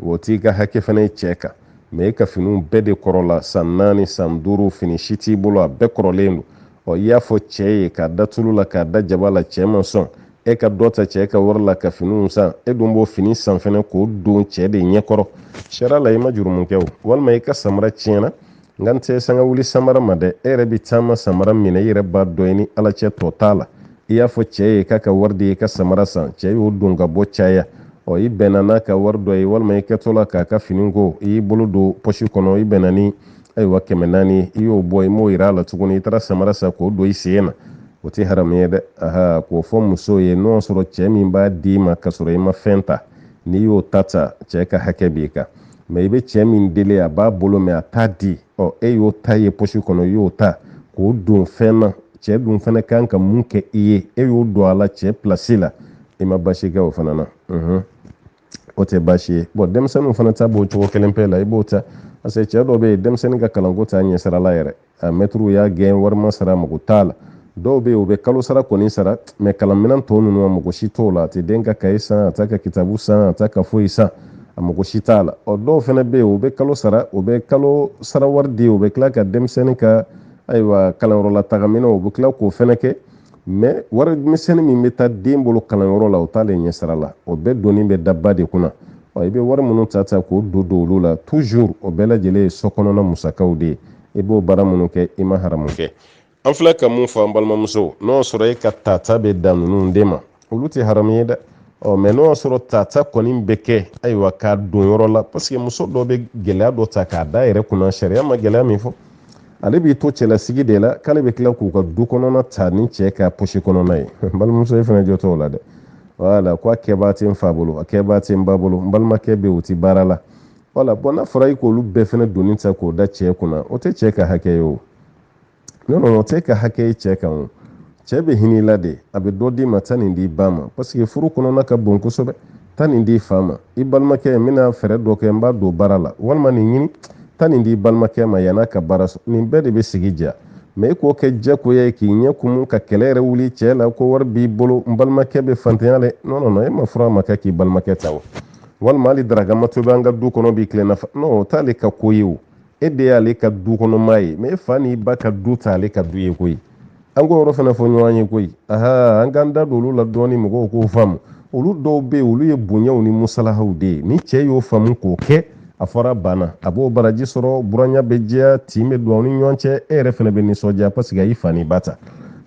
o t'i ka hakɛ fana ye cɛ kan mɛ e ka finiw bɛɛ de kɔrɔla san naani san duuru fini si t'i bolo a bɛɛ kɔrɔlen don ɔ i y'a fɔ cɛ ye k'a da tulu la k'a da jaba la cɛ ma sɔn e ka dɔ ta cɛ ka wari la ka finiw san e dun b'o fini san fɛnɛ k'o don cɛ de ɲɛkɔrɔ sariya la i ma jurumu kɛ o walima i ka samara tiɲɛna n kan tɛ sanga wuli samara ma dɛ e yɛrɛ bɛ taama samara min na i yɛrɛ b'a dɔn i ni ala cɛ tɔ t'a la i y'a fɔ cɛ ye k'a ka wari di i ka samara san cɛ y'o don ka bɔ caya ɔ i bɛnna n'a ka wari dɔ ye walima i kɛtɔ la k'a ka fini ko i y'i bolo don pɔsi kɔnɔ i bɛnna ni ayiwa kɛmɛ naani i y'o bɔ i m'o yira a la tuguni i taara samara san k'o don i sen na o tɛ haramu ye dɛ aha k'o fɔ muso ye n'o y'a sɔrɔ cɛ min b'a d'i ma k'a sɔrɔ i ma fɛn ta n'i y'o ta ta cɛ ka hakɛ b'i kan mɛ i bɛ cɛ min deli a b'a bolo mɛ a t'a di ɔ e y'o ta ye posi kɔnɔ i y'o ta k'o don fɛn na cɛ dun fana ka kan ka mun kɛ i ye e y'o don a la cɛ pilasi la i ma baasi kɛ o fana na o tɛ baasi ye bɔn denmisɛnninw fana ta b'o cogo kelen pe la i b'o ta parce que cɛɛ dɔ be yen denmisɛnnin ka kalanko t'a ɲɛsira la yɛrɛ a mɛtiriw y'a gɛn wari ma sara mago t'a la dɔw be yen u bɛ kalo sara kɔni sara mɛ kalanminan tɔw ninnu a mago si t'o la a tɛ den ka kaye san a t'a ka kitabu san a t'a ka foyi san a mago si t'a la ɔ dɔw fana bɛ yen u bɛ kalo sara u bɛ kalo sara wari di u bɛ tila ka denmisɛnnin ka ayiwa kalanyɔrɔla tagaminan u bɛ tila k'o fana kɛ mɛ wari misɛnnin min bɛ taa den bolo kalanyɔrɔ la o t'ale ɲɛsira la o bɛɛ doni bɛ da ba de kunna ɔ i bɛ wari minnu ta ta k'o don don olu la toujours o bɛɛ lajɛlen ye so kɔnɔna musakaw de ye i b'o baara minnu kɛ i ma haramu kɛ an filɛ ka mun fɔ an balimamuso n'o y'a sɔrɔ e ka tata bɛ dan ninnu de ma olu tɛ haramu ye dɛ ɔ mɛ n'o y'a sɔrɔ tata kɔni bɛ kɛ ayiwa k'a don yɔrɔ la parce que muso dɔ bɛ gɛlɛya dɔ ta k'a d'a yɛrɛ kunna sariya ma gɛlɛya min fɔ ale b'i to cɛlasigi de la k'ale bɛ tila k'u ka du kɔnɔna ta ni cɛ ka posi kɔnɔna ye balimamuso i fana jo t'o la dɛ wala ko a kɛbaa tɛ n fa bolo a kɛbaa tɛ n ba bolo n balimakɛ bɛ o tɛ baara la wala bɔn n'a fɔra i k'olu bɛɛ fana doni ta k'o da cɛ kunna o tɛ cɛ ka hakɛ ye o nɔn nɔn o t'e ka hakɛ ye cɛ kan o cɛɛ be hin'i la de a be dɔ d'i ma taa nin d'i ba ma parce que furu kɔnɔna ka bon kosɛbɛ taa nin d'i fa ma i balimakɛ n bena fɛɛrɛ dɔ kɛ n b'a don baara la walima nin ɲini taa nin d'i balimakɛ ma yann'a ka baara sɔrɔ nin bɛɛ de be sigi diya mɛ i k'o kɛ jagoya ye k'i ɲɛ kumu ka kɛlɛ yɛrɛ wuli cɛɛ la ko wari b'i bolo n balimakɛ be fantanya la nɔnɔnɔ e ma furu ma kɛ k'i balimakɛ ta wa walima hali daraka ma tobi an ka du kɔnɔ bi tilelafana o t'ale ka ko ye o e de y'ale ka du kɔnɔmaa ye mɛ e fa n'i ba ka du t'ale ka du ye koyi an k'o yɔrɔ fana fɔ ɲɔgɔn ye koyi aha an k'an da don olu la dɔɔni mɔgɔw k'o faamu olu dɔw bɛ yen olu ye bonyaw ni musalahaw de ye ni cɛ y'o faamu k'o kɛ a fɔra banna a b'o baraji sɔrɔ buranya bɛ diya tin bɛ don aw ni ɲɔgɔn cɛ e yɛrɛ fana bɛ nisɔndiya paseke a y'i fa ni ba ta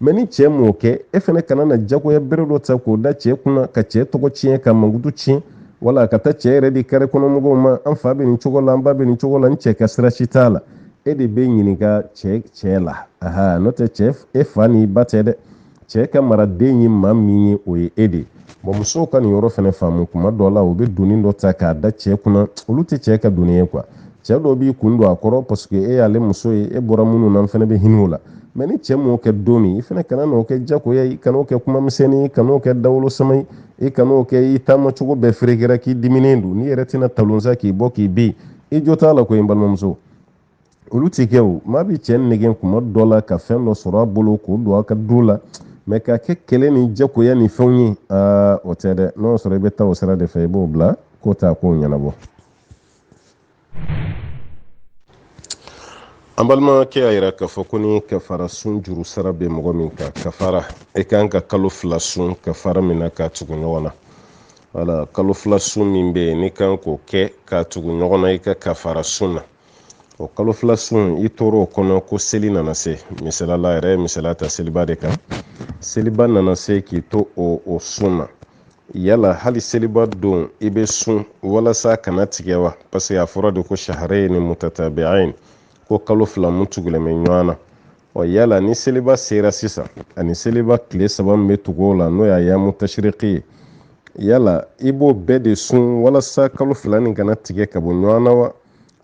mɛ ni cɛ m'o kɛ e fana kana na jagoya bere dɔ ta k'o da cɛ kunna ka cɛ tɔgɔ tiɲɛ k'a mankutu tiɲɛ wala ka taa cɛ yɛrɛ di kare kɔnɔmɔgɔw ma an fa bɛ nin cogo la an ba bɛ nin cogo la n cɛ ka sira si t'a la e de bɛ ɲininka cɛ cɛ la aha n'o tɛ cɛ e fa ni ba tɛ dɛ cɛ ka maraden ye maa min ye o ye e de ye bɔn musow ka nin yɔrɔ fana faamu kuma dɔ la u bɛ doni dɔ ta k'a da cɛ kunna olu tɛ cɛ ka doni ye kuwa cɛ dɔ b'i kun don a kɔrɔ paseke e y'ale muso ye e bɔra minnu na n fana bɛ hinɛ o la mɛ ni cɛ m'o kɛ don min i fana kana n'o kɛ jagoya ye kan'o kɛ kuma misɛnnin ye kan'o kɛ dawolo sama ye i kan'o kɛ i taama cogo bɛɛ ferekera k'i diminen don n'i yɛrɛ tɛna talon sa k'i bɔ k'i bin i jo t'a la koyi n balimamuso olu tɛ kɛ o maa bɛ cɛ nɛgɛn kuma dɔ la ka fɛn dɔ sɔrɔ a bolo k'o don a ka du la mɛ k'a kɛ kɛlɛ ni jagoya ni fɛnw ye aa o tɛ dɛ n'o sɔrɔ i bɛ taa o sira de fɛ i b'o bila k'o t'a kow ɲɛnabɔ an balimakɛ y'a yira k'a fɔ ko ni kafara sun juru sara bɛ mɔgɔ min kan kafara i kan ka kalo fila sun kafara min na k'a tugu ɲɔgɔn na wala kalo fila sun min bɛ yen n'i kan k'o kɛ k'a tugu ɲɔgɔn na i ka kafara sun na o kalo fila sun i tora o kɔnɔ ko seli nana se misalala yɛrɛ ye misaliya ta seliba de kan seliba nana se k'i to o sun na yala hali seliba don i bɛ sun walasa kana tigɛ wa parce que a fɔra de ko shahrayni mutatabi'ain ko kalo fila mun tugulen bɛ ɲɔgɔn na ɔ yala ni seliba sera sisan ani seliba tile saba min bɛ tugu o la n'o ye ayamu tashiriki ye yala i b'o bɛɛ de sun walasa kalo fila nin kana tigɛ ka bɔ ɲɔgɔn na wa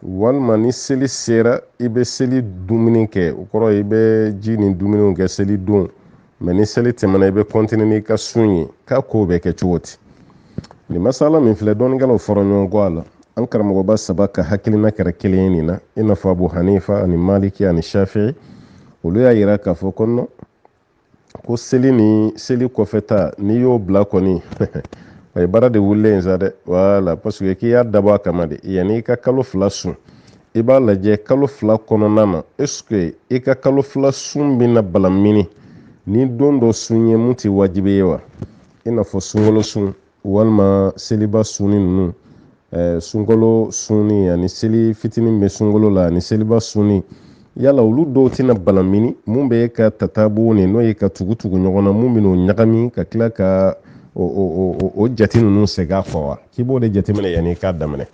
walima ni seli sera i bɛ seli dumuni kɛ o kɔrɔ i bɛ ji ni dumuniw kɛ seli don mɛ ni seli tɛmɛna i bɛ kɔntine n'i ka sun ye k'a kow bɛ kɛ cogo di nin masala min filɛ dɔnnikɛlaw fɔra ɲɔgɔn kɔ a la an karamɔgɔba saba ka hakilina kɛra kelen ye nin na i n'a fɔ abu hanifa ani maliki ani shafi olu y'a yira k'a fɔ ko nɔn ko seli ni seli kɔfɛ ta n'i y'o bila kɔni a ye baara de wulilen ye sa dɛ wala paseke k'i y'a dabɔ a kama de yanni i ka kalo fila sun i b'a lajɛ kalo fila kɔnɔna na eseke i ka kalo fila sun bɛna balamini ni don dɔ sun ye mun tɛ wajibi ye wa i n'a fɔ sunkalo sun walima seliba sunni ninnu ɛɛ sunkalo sunni ani seli fitinin bɛ sunkalo la ani seliba sunni yala olu dɔw tɛna balamini mun bɛ ka tatabu'u nin n'o ye k'a tugu tugu ɲɔgɔn na mun bɛn'o ɲagami ka tila ka o o o o jate ninnu segin a kɔ wa k'i b'o de jateminɛ yanni i k'a daminɛ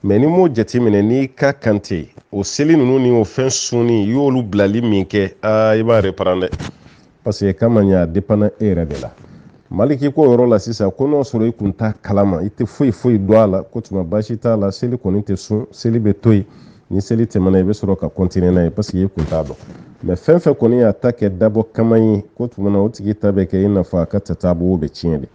mɛ n'i m'o jateminɛ n'i ka kan tɛ o seli ninnu ni o fɛn sunni i y'olu bilali min kɛ aa i b'a reparan dɛ parce que k'a ma ɲa a depanna e yɛrɛ de la maliki k'o yɔrɔ la sisan ko n'o sɔrɔ i kun t'a kalama i tɛ foyi foyi dɔn a la k'o tuma baasi t'a la seli kɔni tɛ sun seli bɛ to yen ni seli tɛmɛna i bɛ sɔrɔ ka kɔntine n'a ye parce que i kun t'a dɔn mɛ fɛn fɛn kɔni y'a ta kɛ dabɔ kama ye k'o tuma na o tigi ta bɛ kɛ i n'a fɔ a ka tatabu'u bɛ tiɲɛ de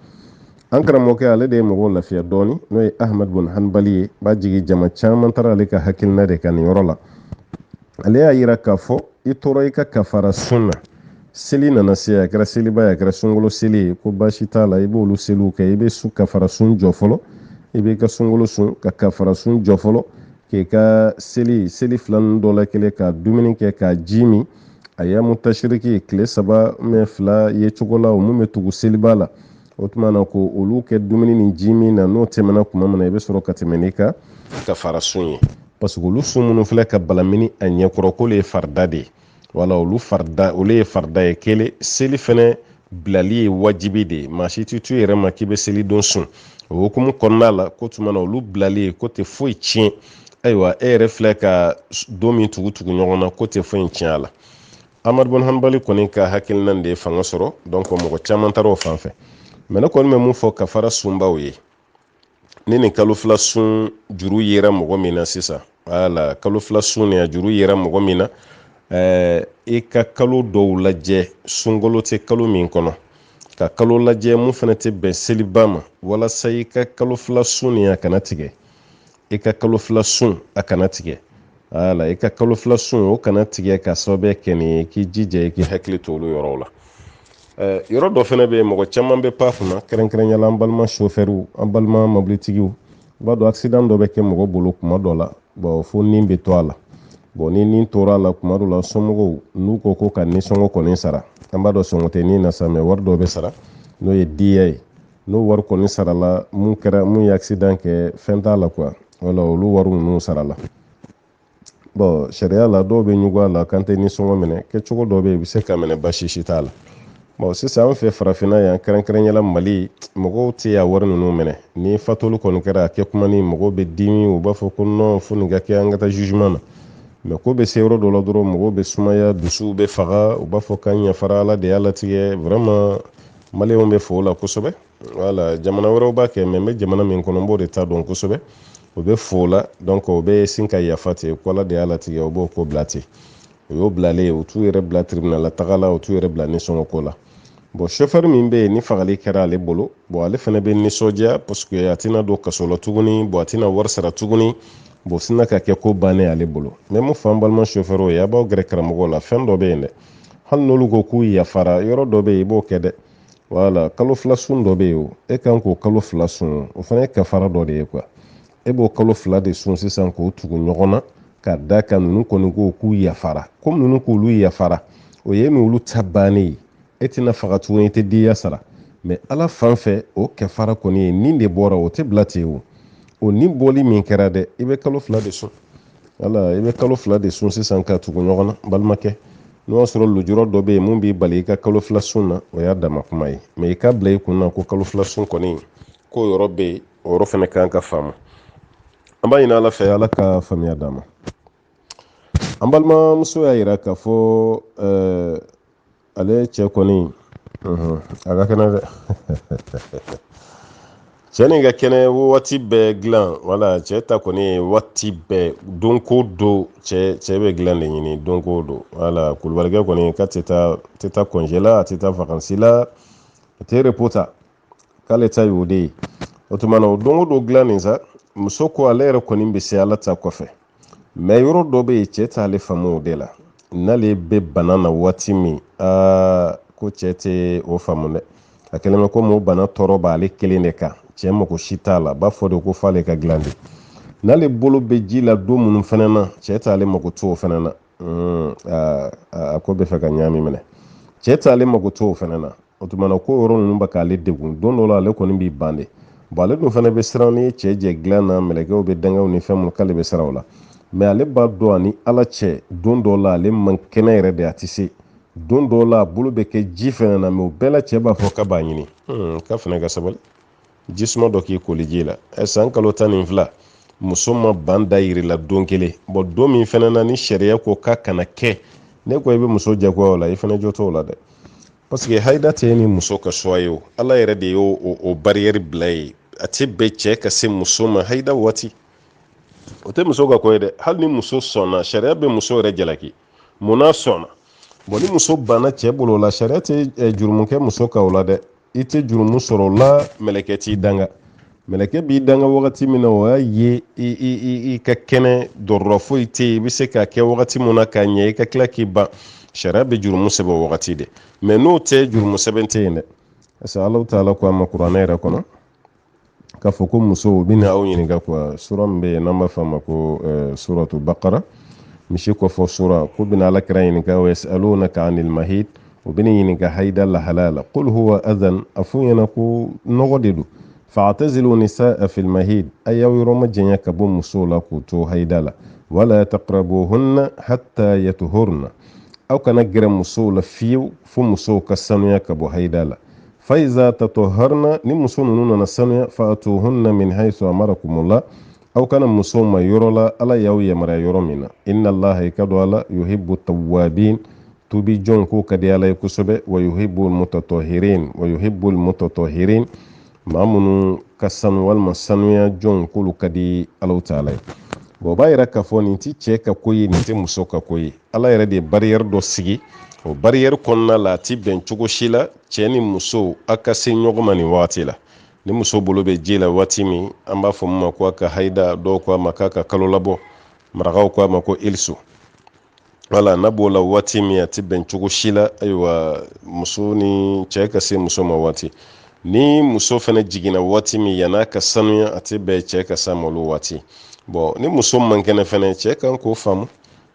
an karamɔgɔkɛ ale de ye mɔgɔw lafiya dɔɔni n'o ye ahmad bun hanbali ye b'a jigin jama caman taara ale ka hakilina de kan nin yɔrɔ la ale y'a yira k'a fɔ i tora i ka kafara sun na seli nana se a kɛra seliba ye a kɛra sunkalo seli ye ko baasi t'a la i b'olu seliw kɛ i bɛ su kafara sun jɔ fɔlɔ i b'i ka sunkalo sun ka kafara sun jɔ fɔlɔ k'i ka seli seli fila ninnu dɔ la kelen ka dumuni kɛ ka ji min ayamu tashiriki tile saba mɛ fila ye cogo la o mun bɛ tugu seliba la o tuma na ko olu kɛ dumuni ni ji min na n'o tɛmɛna kuma min na i bɛ sɔrɔ ka tɛmɛ n'i ka kafara sun ye parce que olu sun minnu filɛ ka balamini a ɲɛkɔrɔ k'olu ye farida de ye wala olu farida olu ye farida ye kelen seli fɛnɛ bilali ye wajibi de ye maa si tɛ to i yɛrɛ ma k'i bɛ seli don sun o hukumu kɔnɔna la k'o tuma na olu bilali ye k'o tɛ foyi tiɲɛ ayiwa e yɛrɛ filɛ ka don min tugu tugu ɲɔgɔn na k'o tɛ foyi tiɲɛ a la ahmad bun hanbali kɔni ka hakilina de ye fanga sɔrɔ donc mɔgɔ caman taara o fan fɛ mɛ ne kɔni bɛ mun fɔ kafara sunbaw ye ni nin kalo fila sun juru yera mɔgɔ min na sisan wala kalo fila sun nin a juru yera mɔgɔ min na ɛɛ eh, i ka kalo dɔw lajɛ sunkalo tɛ kalo min kɔnɔ ka kalo lajɛ mun fana tɛ bɛn seliba ma walasa i ka kalo fila sun nin a kana tigɛ i ka kalo fila sun a kana tigɛ wala i ka kalo fila sun o kana tigɛ ka sababuya kɛ nin ye k'i jija i k'i hakili to olu yɔrɔw la yɔrɔ dɔ fana bɛ yen mɔgɔ caman bɛ pan kunna kɛrɛnkɛrɛnya la an balima sofɛriw an balima mobilitigiw i b'a dɔn accident dɔ bɛ kɛ mɔgɔ bolo kuma dɔ la bɔn fo ni bɛ to a la bɔn ni ni tora a la kuma dɔ la somɔgɔw n'u ko ko ka nisɔngɔ kɔni sara an b'a dɔn sɔngɔ tɛ ni na sa mɛ wari dɔ bɛ sara n'o ye diya ye n'o wari kɔni sarala mun kɛra mun ye accident kɛ fɛn t'a la quoi wala olu wari ninnu sarala bɔn sariya la dɔw bɛ ɲugu a la k'an tɛ nisɔngɔ minɛ kɛcogo dɔ bɛ yen i bɛ se k'a minɛ baasi si t'a la bɔn sisan an fɛ farafinna yan kɛrɛnkɛrɛnyala mali mɔgɔw tɛ diya wari ninnu minɛ ni fatuli kɔni kɛra a kɛ kuma ni mɔgɔw bɛ dimi u b'a fɔ ko nɔn fo nin ka kɛ an ka taa jugement na mɛ ko bɛ se yɔrɔ dɔ la dɔrɔn mɔgɔw bɛ sumaya dusuw bɛ faga u b'a fɔ k'an yafara ala de y'a latigɛ vraiment maliyɛnw bɛ fo o la kosɛbɛ wala jamana wɛrɛw b'a kɛ mɛ n bɛ jamana min kɔnɔ n b'o de ta dɔn kosɛbɛ u bɛ fo o la donc u bɛ sin ka yafa ten ko ala de y'a latigɛ u b'o ko bila ten o y'o bilalen u t'u yɛrɛ bila tiribinala taga la u t'u yɛrɛ bila nisɔngɔko la bɔn sofɛri min bɛ yen ni fagali kɛra ale bolo bɔn ale fana bɛ nisɔndiya parce que a tɛna don kaso la tuguni bɔn a tɛna wari sara tuguni bɔn sinna ka kɛ ko bannen ale bolo mɛ mun fɔ an balima sofɛriw ye a b'aw gɛrɛ karamɔgɔw la fɛn dɔ bɛ yen dɛ hali n'olu ko k'u yafara yɔrɔ dɔ bɛ yen i b'o kɛ dɛ wala kalo fila sun dɔ bɛ yen e kan k'o kalo fila sun o fana ye kafara dɔ de ye kuwa e b'o kalo fila de sun sisan k'o tugu ɲɔgɔn na ka d'a kan ninnu kɔni ko k'u yafara komi ninnu k'olu yafara o ye n'olu ta bannen ye e tɛna faga tuguni i tɛ diya sara mɛ ala fan fɛ o kafara kɔni ye nin de bɔra o tɛ bila ten o o nin bɔli min kɛra dɛ i bɛ kalo fila de sun wala i bɛ kalo fila de sun sisan k'a tugu ɲɔgɔn na balimakɛ n'o y'a sɔrɔ lujura dɔ bɛ yen mun b'i bali i ka kalo fila sun na o y'a dama kuma ye mɛ i k'a bila i kun na ko kalo fila sun kɔni k'o yɔrɔ bɛ yen o yɔrɔ fana kan ka faamu an b'a ɲini ala fɛ ala ka faamuya d'an ma an balimamuso y'a jira k'a fɔ eh, ale cɛ kɔni a ka kɛnɛ dɛ cɛ nin ka kɛnɛ waati bɛɛ dilan wala cɛ ta kɔni waati bɛɛ don ko don cɛ cɛ bɛ dilan de ɲini don ko don wala kulubalikɛ kɔni k'a tɛ taa kɔnjɛ la a tɛ taa fakansi la a tɛ repo ta k'ale ta y'o de ye o tuma na o don ko don dilan nin sa muso ko ale yɛrɛ kɔni bɛ se ala ta kɔfɛ mɛ yɔrɔ dɔ bɛ yen cɛ t'ale faamu o de la n'ale bɛ bana na waati min a ko cɛ tɛ o faamu dɛ a kɛlen bɛ komi o bana tɔɔrɔ b'ale kelen de kan cɛ mako si t'a la b'a fɔ de ko f'ale ka dilan de n'ale bolo bɛ ji la don minnu fana na cɛ t'ale makoto o fana na a ko bɛ fɛ ka ɲaami minɛ cɛ t'ale makoto o fana na o tuma na ko yɔrɔ ninnu bɛ k'ale degun don dɔ la ale kɔni b'i ban de bɔn ale dun fana bɛ siran n'i ye cɛ jɛ dilan na mɛlɛkɛw bɛ dangaw ni fɛn minnu k'ale bɛ siran o la mɛ ale b'a dɔn a ni ala cɛ don dɔ la ale man kɛnɛ yɛrɛ de a tɛ se don dɔ la a bolo bɛ kɛ ji fɛnɛ na mɛ o bɛɛ la cɛ b'a fɔ k'a b'a ɲini hmm, k'a fana ka sabali jisuma dɔ k'i koli ji la ɛ san kalo tan ni fila muso ma ban da yiri la don kelen bɔn don min fana na ni sariya ko k'a kana kɛ n'e ko i bɛ muso jagoya o la i fana jo t'o la dɛ paseke hayida tɛ ni muso ka suwa ye o ala yɛrɛ de y'o o bariyɛri bila ye a tɛ bɛn cɛ ka se muso ma hayida waati o tɛ muso ka ko ye dɛ hali ni muso sɔnna sariya bɛ muso yɛrɛ jalaki mun n'a sɔnna bɔn ni muso banna cɛ bolo la sariya tɛ jurumu kɛ muso kan o la dɛ i tɛ jurumu sɔrɔ o la mɛlɛkɛ t'i danga mɛlɛkɛ b'i danga wagati min na o y'a ye i ka kɛnɛ dɔrɔrɔ foyi tɛ yen i bɛ se k'a kɛ wagati min na k'a ɲɛ i ka tila k'i ban sariya bɛ jurumu sɛbɛn o wagati de mɛ n'o tɛ jurumu sɛbɛn tɛ yen dɛ parce que alahu taala ko a ma kuranɛ yɛrɛ kɔnɔ k'a fɔ ko musow u bɛna aw ɲininka kuwa sura min bɛ yen n'an b'a fɔ a ma ko suratu bakara misi kɔfɔ sura k'u bɛna ala kira ɲininka wa yasalunaka anil mahid u bɛna ɲininka haida lahalaya la qul huwa adhan a f'u ɲɛna ko nɔgɔ de don fa'tazilu nisaa fil mahid a y'aw yɔrɔ majanya ka bɔ musow la k'u to haida la wala taqrabuhunna hatta yatuhurna aw kana gɛrɛ musow la fiyew fo musow ka sanuya ka bɔ haida la fa iza tataharna ni muso ninnu nana sanuya fa'atuhunna min haythu amarakumullah aw ka na musow ma yɔrɔ la ala y'aw yamaruya yɔrɔ min na inna allaha i k'a dɔn ala yuhibbu tawwabin tubi jɔn ko ka di ala ye kosɛbɛ wa yuhibbu mutatahirin wa yuhibbu mutatahirin maa minnu ka sanu walima sanuya jɔn k'olu ka di alahu taala ye bɔn o b'a yira k'a fɔ nin tɛ cɛ ka ko ye nin tɛ muso ka ko ye ala yɛrɛ de ye bariyɛri dɔ sigi o bariyɛri kɔnɔna la a ti bɛn cogo si la cɛɛ ni muso a ka se ɲɔgɔn ma nin wagati la ni muso bolo bɛ ji la waati min an b'a fɔ min ma ko a ka haida dɔw ko a ma k'a ka kalo labɔ marakaw ko a ma ko iliso wala n'a b'o la waati min a tɛ bɛn cogo si la ayiwa muso ni cɛɛ ka se muso ma waati ni muso fana jiginna waati min yann'a ka sanuya a tɛ bɛn cɛɛ ka s'a ma o waati bɔn ni muso man kɛnɛ fana cɛɛ kan k'o faamu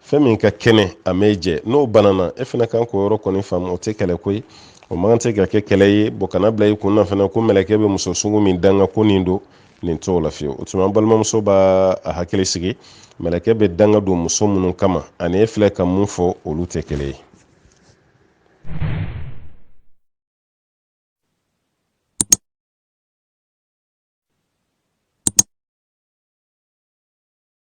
fɛn min ka kɛnɛ a mɛ jɛ n'o banana e fana kan k'o yɔrɔ kɔni faamu o tɛ kɛlɛ ko ye o man kan tɛ ka kɛ kɛlɛ ye bɔn kan'a bila i kun na fana ko mɛlɛkɛ bɛ muso sugu min danga ko nin don nin t'o la fiyewu o tuma an balimamuso b'a a hakili sigi mɛlɛkɛ bɛ danga don muso minnu kama ani e filɛ ka mun fɔ olu tɛ kelen ye